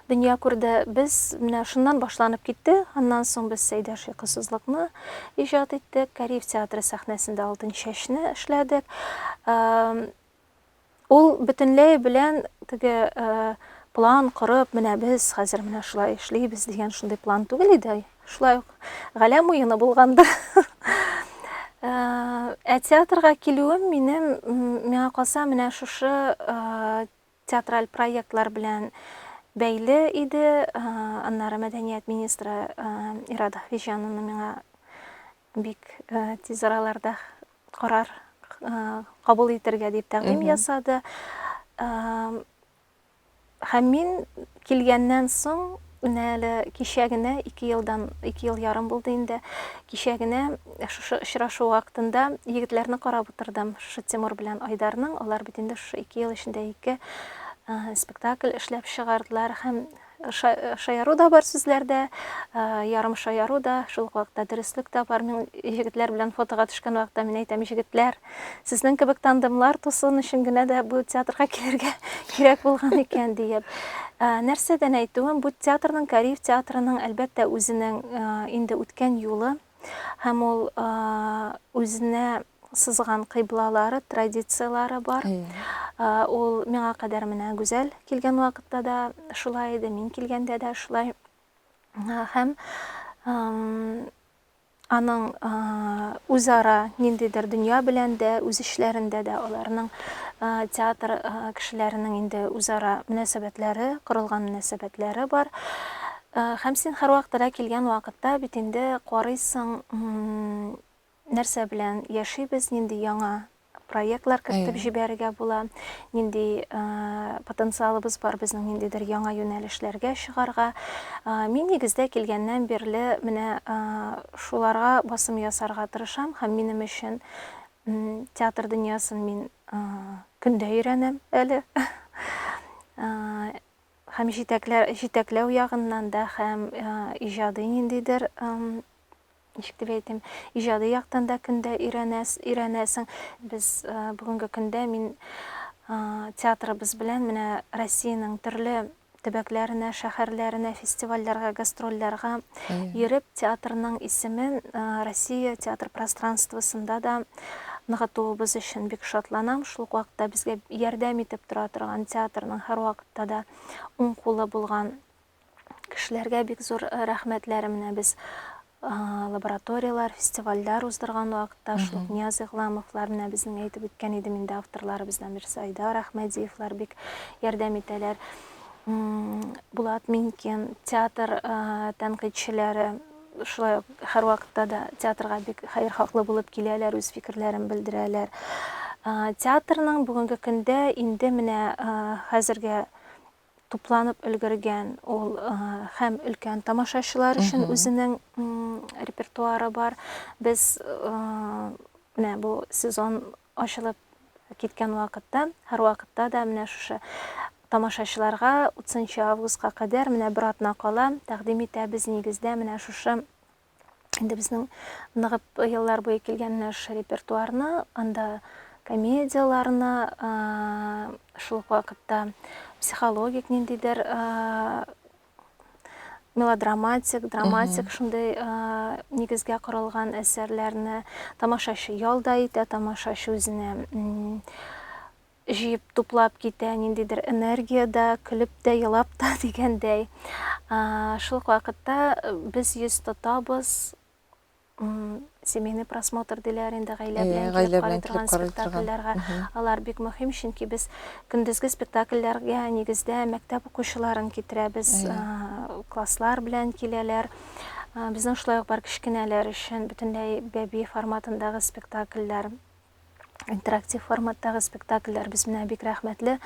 дөнья күрде. Без менә шуннан башланып китте. Аннан соң без Сәйдә шыксызлыкны иҗат иттек. Кариев театры сәхнәсендә Алтын чәчне эшләдек. Ул бөтенләй белән теге план корып, менә без хәзер менә шулай эшлибез дигән шундый план түгел иде. Шулай ук Галәм уены булганда. Ә театрга килүем минем, миңа калса, менә шушы театраль проектлар белән бәйле иде, аннары мәдәният министры Ирада Хвиҗанова миңа бик тиз араларда карар кабул итәргә дип тәкъдим ясады. Һәм мин Килгәннән соң, менә әле кичә генә, ике елдан, ике ел ярым булды инде, кичә генә шушы очрашу вакытында егетләрне карап утырдым, шушы Тимур белән Айдарның, алар бит инде шушы ике ел эчендә ике спектакль эшләп чыгардылар һәм шаяру да бар сүзләрдә, ярым шаяру да, шул ук вакытта дөреслек тә бар. Мин егетләр белән фотога төшкән вакытта мин әйтәм, егетләр, Сезнең кебек тандемлар тусуын өчен генә дә бу театрга килергә кирәк булган икән, диеп. Ә, нәрсәдән әйтүем, бу театрның, Кариев театрының, әлбәттә, үзенең ә, инде үткән юлы һәм ул ә, үзенә сызган кыйблалары, традицияләре бар. Ә, ул миңа кадәр менә Гүзәл килгән вакытта да шулай иде, мин килгәндә дә шулай. Ә, һәм Аның үзара ниндидер дөнья белән дә, үз эшләрендә дә аларның театр кешеләренең инде үзара мөнәсәбәтләре, корылган мөнәсәбәтләре бар. Һәм син һәрвакыт да килгән вакытта бит инде карыйсың, нәрсә белән яшибез, нинди яңа проектлар кертеп җибәрергә була, нинди потенциалыбыз бар безнең ниндидер яңа юнәлешләргә чыгарга. Мин нигездә килгәннән бирле менә шуларга басым ясарга тырышам һәм минем өчен театр дөньясын мин көндә өйрәнәм әле. Һәм җитәкләү ягыннан да, һәм иҗади ниндидер ничек дип әйтим, иҗади яктан да көндә өйрәнәс, өйрәнәсең. Без бүгенге көндә мин театрыбыз белән менә Россиянең төрле төбәкләренә, шәһәрләренә, фестивальләргә, гастрольләргә йөреп, театрның исемен Россия театр пространствосында да ныгытуыбыз өчен бик шатланам. Шул ук вакытта безгә ярдәм итеп тора торган театрның һәрвакытта да уң кулы булган кешеләргә бик зур э, рәхмәтләр менә без лабораторияләр, фестивальләр уздырган вакытта шул Нияз Игламовлар менә безнең әйтеп үткән идем инде авторларыбыздан берсе Айдар Әхмәдиевлар бик ярдәм итәләр. Булат Минкин, театр э, тәнкыйтьчеләре шулай ук һәрвакытта да театрга бик хәер хаклы булып киләләр, үз фикерләрен белдерәләр. Театрның бүгенге көндә инде менә хәзерге тупланып өлгергән ул һәм өлкән тамашачылар өчен үзенең репертуары бар без менә бу сезон ачылып киткән вакытта һәрвакытта да менә шушы тамашачыларга 30 августка кадәр менә бер атна кала тәкъдим итәбез нигездә менә шушы инде безнең ныгып еллар буе килгән наш репертуарны, анда комедияләрне, шул ук вакытта психологик ниндидер мелодраматик, драматик шундый нигезгә корылган әсәрләрне тамашачы ялда итә, тамашачы үзенә Җыеп, туплап китә, ниндидер энергия дә, көлеп тә, елап та дигәндәй. Шул ук вакытта без йөз тотабыз, семейный просмотр диләр инде, гаилә белән килеп карый торган спектакльләргә. Алар бик мөһим, чөнки без көндезге спектакльләргә нигездә мәктәп укучыларын китерәбез, класслар белән киләләр. Безнең шулай ук бар кечкенәләр өчен бөтенләй бәби форматындагы спектакльләр. интерактив форматтагы спектакльләр без менә бик рәхмәтле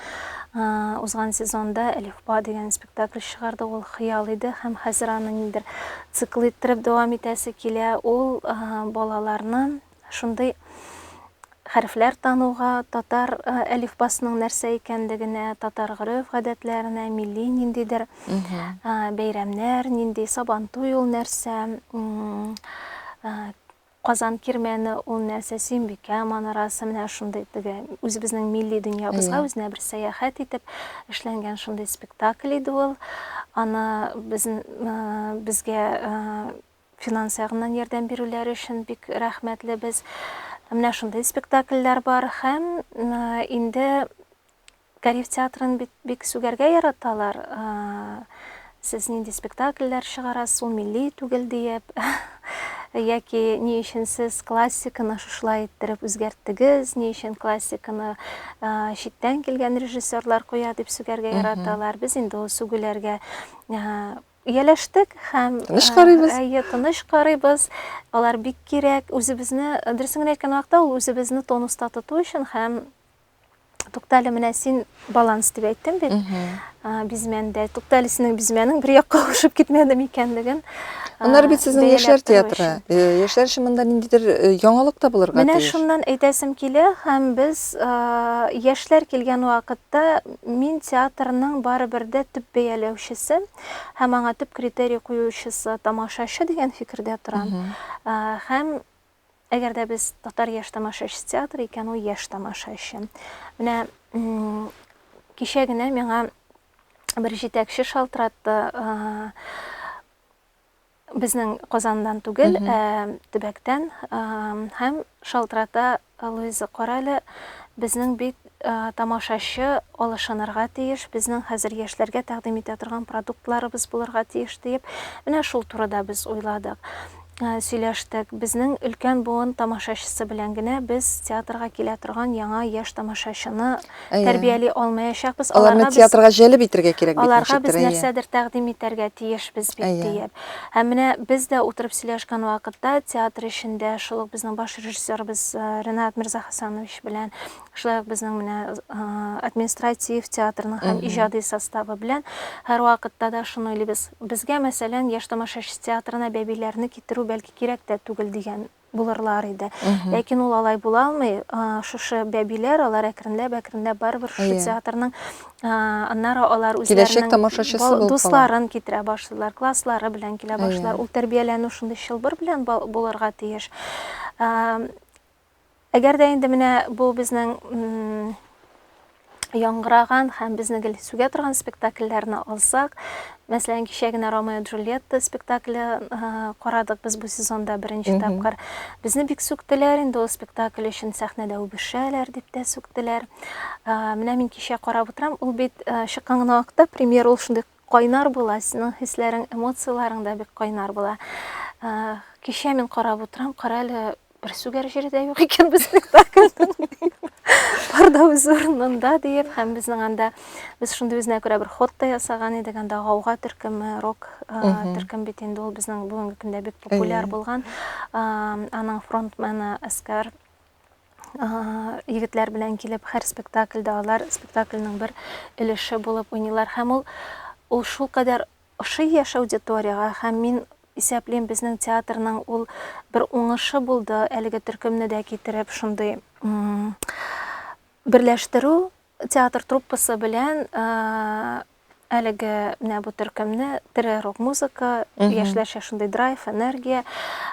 узган сезонда әлифба дигән спектакль чыгарды ул хыял иде һәм хәзер аны ниндер цикл иттереп дәвам итәсе килә ул балаларны шундый хәрефләр тануга татар әлифбасының нәрсә икәнлегенә татар гореф гадәтләренә милли ниндидер бәйрәмнәр нинди сабантуй ул нәрсә Казан кирмәне ул нәрсә, Сөембикә манарасы, менә шундый теге үзебезнең милли дөньябызга үзенә бер сәяхәт итеп эшләнгән шундый спектакль иде ул. Аны без, безгә финанс ягыннан ярдәм бирүләре өчен бик рәхмәтлебез. Менә шундый спектакльләр бар һәм инде Гариф театрын бит бик сүгәргә яраталар. Сез нинди спектакльләр чыгарасыз, ул милли түгел диеп. Яки ни өчен сез классиканы шушылай иттереп үзгәрттегез, ни өчен классиканы читтән килгән режиссерлар куя дип сүгәргә яраталар. Без инде ул сүгүләргә ияләштек һәм тыныч карыйбыз. Әйе, тыныч карыйбыз. Алар бик кирәк. Үзебезне, дөресен генә әйткән вакытта, ул үзебезне тонуста тоту өчен һәм Туктале, менә син баланс дип әйттең бит. Бизмәндә. Туктале, синең бизмәнең бер якка ошып китмәде микәнлеген. Аннары бит сезнең яшьләр театры. Яшьләр өчен монда ниндидер яңалык та булырга тиеш. Менә шуннан әйтәсем килә, һәм без яшьләр килгән вакытта мин театрның барыбер дә төп бәяләүчесе һәм аңа төп критерий куючысы тамашачы дигән фикердә торам. Һәм Әгәр дә без татар яшь тамашачы театры икән, ул яшь тамашачы. Менә кичә генә миңа бер җитәкче шалтыратты безнең Казандан түгел, ә төбәктән һәм шалтырата Луиза Корале безнең бит Тамашачы алышынырга тиеш, безнең хәзер яшьләргә тәкъдим итә торган продуктларыбыз булырга тиеш, диеп, менә шул турыда без уйладык, сөйләштек. Безнең өлкән буын тамашачысы белән генә без театрга килә торган яңа яшь тамашачыны тәрбияли алмаячакбыз. Аларга без. Аларны театрга җәлеп итәргә кирәк бит, ничектер, әйе. Аларга без нәрсәдер тәкъдим итәргә тиешбез бит, диеп. Һәм менә без дә утырып сөйләшкән вакытта, театр эчендә шул ук безнең баш режиссерыбыз Ренат Мирзахасанович белән Шулай ук безнең менә административ театрның һәм иҗади составы белән һәрвакытта да шуны уйлыйбыз. Безгә, мәсәлән, Яшь тамашачы театрына бәбиләрне китерү бәлки кирәк тә түгел дигән булырлар иде. Ләкин ул алай була алмый. Шушы бәбиләр, алар әкренләп-әкренләп барыбер шушы театрның аннары алар үзләренең дусларын китерә башлыйлар, класслары белән килә башлыйлар. Ул тәрбияләнү шундый чылбыр белән булырга тиеш. Әгәр дә инде менә бу безнең яңгыраган һәм безне гел сүгә торган спектакльләрне алсак, мәсәлән, кичә генә Ромео и Джульетта спектакле карадык без бу сезонда беренче тапкыр. Безне бик сүктеләр инде ул спектакль өчен сәхнәдә үбешәләр дип тә сүктеләр. Менә мин кичә карап утырам, ул бит чыккан гына вакытта премьер ул шундый Кайнар була, синең хисләрең, эмоцияләрең дә бик кайнар була. Кичә мин карап утырам, кара әле бер сүгәр җире дә юк икән без спектакльнең. Бар да үз урынында диеп, һәм безнең анда без шундый үзенә күрә бер ход та ясаган идек, анда гауга төркеме, рок төркем бит инде ул безнең бүгенге көндә бик популяр булган. Аның фронтмены Әскәр егетләр белән килеп һәр спектакльдә алар спектакльнең бер өлеше булып уйныйлар һәм ул ул шул кадәр ошый яшь аудиторияга һәм мин исәплим безнең театрның ул бер уңышы булды әлеге төркемне дә китереп шундый берләштерү Театр труппасы белән әлеге менә бу төркемне тере рок музыка яшьләрчә шундый драйв энергия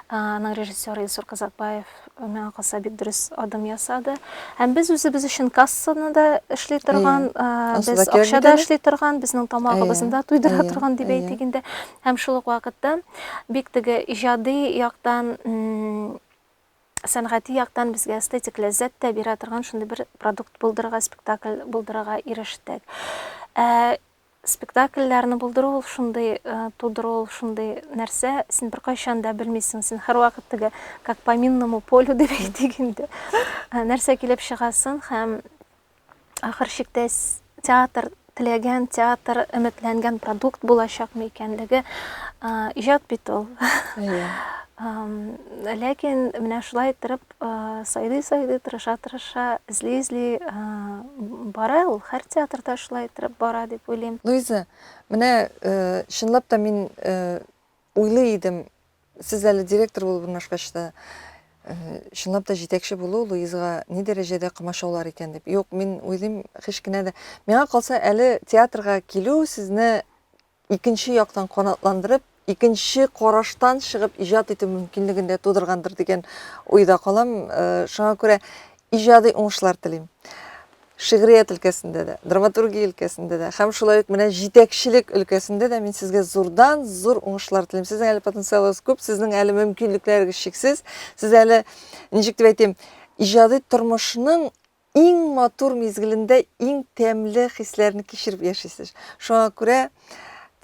аның режиссеры илсур казакбаев миңа калса бик дөрес адым ясады һәм без үзебез өчен кассаны да эшли торган без акча да эшли торган безнең тамагыбызны да туйдыра торган дип әйтик инде һәм шул ук вакытта бик теге иҗади яктан сәнгати яктан безгә эстетик ләззәт тә бирә торган шундый бер продукт булдырырга, спектакль булдырырга ирештек. Ә спектакльләрне булдыру ул шундый, э, тудыру ул шундый нәрсә, син беркайчан да белмисең, син һәрвакыт теге как по минному полю дип әйтик инде. Нәрсә килеп чыгасын һәм ахыр чиктә театр теләгән, театр өметләнгән продукт булачакмы икәнлеге иҗат бит ул. Иә. Ләкин менә шулай иттереп сайдый сайдый тырыша тырыша эзли эзли бара ул һәр театрда шулай иттереп бара дип уйлыйм. Луиза, менә чынлап та мин уйлый идем, Сез әле директор булып урнашкач та, чынлап та җитәкче булу Луизга ни дәрәҗәдә комачаулар икән дип. Юк, мин уйлыйм, һич кенә дә. Миңа калса, әле театрга килү сезне икенче яктан канатландырып, икенче караштан чыгып иҗат итү мөмкинлеген дә тудыргандыр дигән уйда калам. Шуңа күрә иҗади уңышлар телим. Шигърият өлкәсендә дә, драматургия өлкәсендә дә һәм шулай ук менә җитәкчелек өлкәсендә дә мин сезгә зурдан зур уңышлар телим. Сезнең әле потенциалыгыз күп, сезнең әле мөмкинлекләрегез чиксез. Сез әле, ничек дип әйтим, иҗади тормышның иң матур мизгелендә иң тәмле хисләрне кичереп яшисез. Шуңа күрә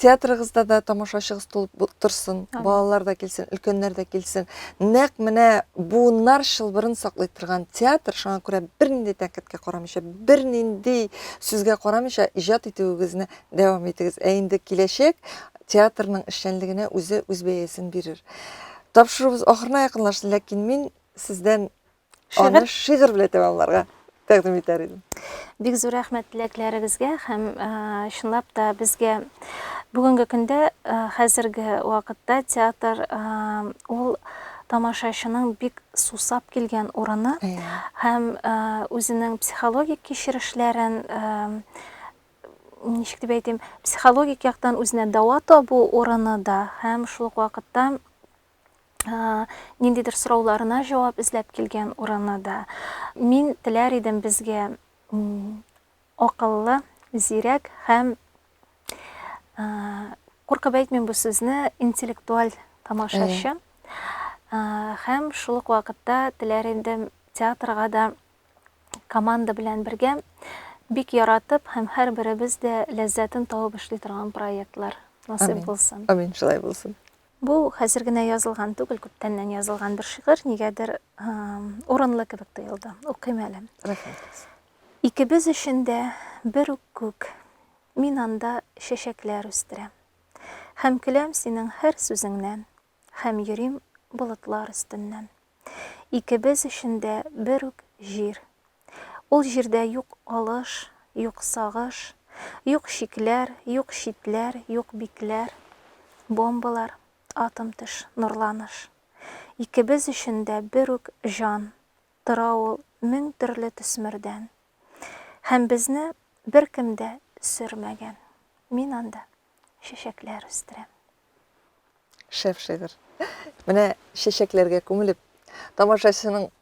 театрыгызда да тамашачыгыз тулып торсын балалар да килсен өлкәннәр дә килсен нәкъ менә буыннар чылбырын саклый торган театр шуңа күрә бернинди тәнкыйтькә карамыйча бернинди сүзгә карамыйча иҗат итүегезне дәвам итегез ә инде киләчәк театрның эшчәнлегенә үзе үз бәясен бирер тапшыруыбыз ахырына якынлашты ләкин мин сездән Аны шигырь белән тәмамларга тәкъдим итәр идем. Бик зур рәхмәт теләкләрегезгә һәм чынлап та безгә бүгенге көндә хәзерге вакытта театр ул тамашачының бик сусап килгән урыны һәм үзенең психологик кичерешләрен ничек дип әйтим, психологик яктан үзенә дәва табу урыны да һәм шул ук вакытта ниндидер сорауларына җавап эзләп килгән урыны да. Мин теләр идем безгә акыллы, зирәк һәм куркып әйтмим бу сүзне, интеллектуаль тамашачы. Һәм шул ук вакытта теләр идем театрга да команда белән бергә бик яратып һәм һәрберебез дә ләззәтен табып эшли торган проектлар насыйп булсын. Амин, шулай булсын. Бу хәзер генә язылган түгел, күптәннән язылган бер шигырь, нигәдер урынлы кебек тоелды. Укыйм әле. Рәхмәт. Икебез өчен дә бер үк күк, мин анда чәчәкләр үстерәм. Һәм көләм синең һәр сүзеңнән, һәм йөрим болытлар өстеннән. Икебез өчен дә бер үк җир, Ул җирдә юк алыш, юк сагыш, Юк чикләр, юк читләр, юк бикләр. Бомбалар, атом төш, нурланыш. Икебез өчен дә бер үк җан, Тора ул мең төрле төсмердән. Һәм безне беркем дә сөрмәгән. Мин анда чәчәкләр үстерәм. Шәп шигырь. Менә чәчәкләргә күмелеп, тамашачының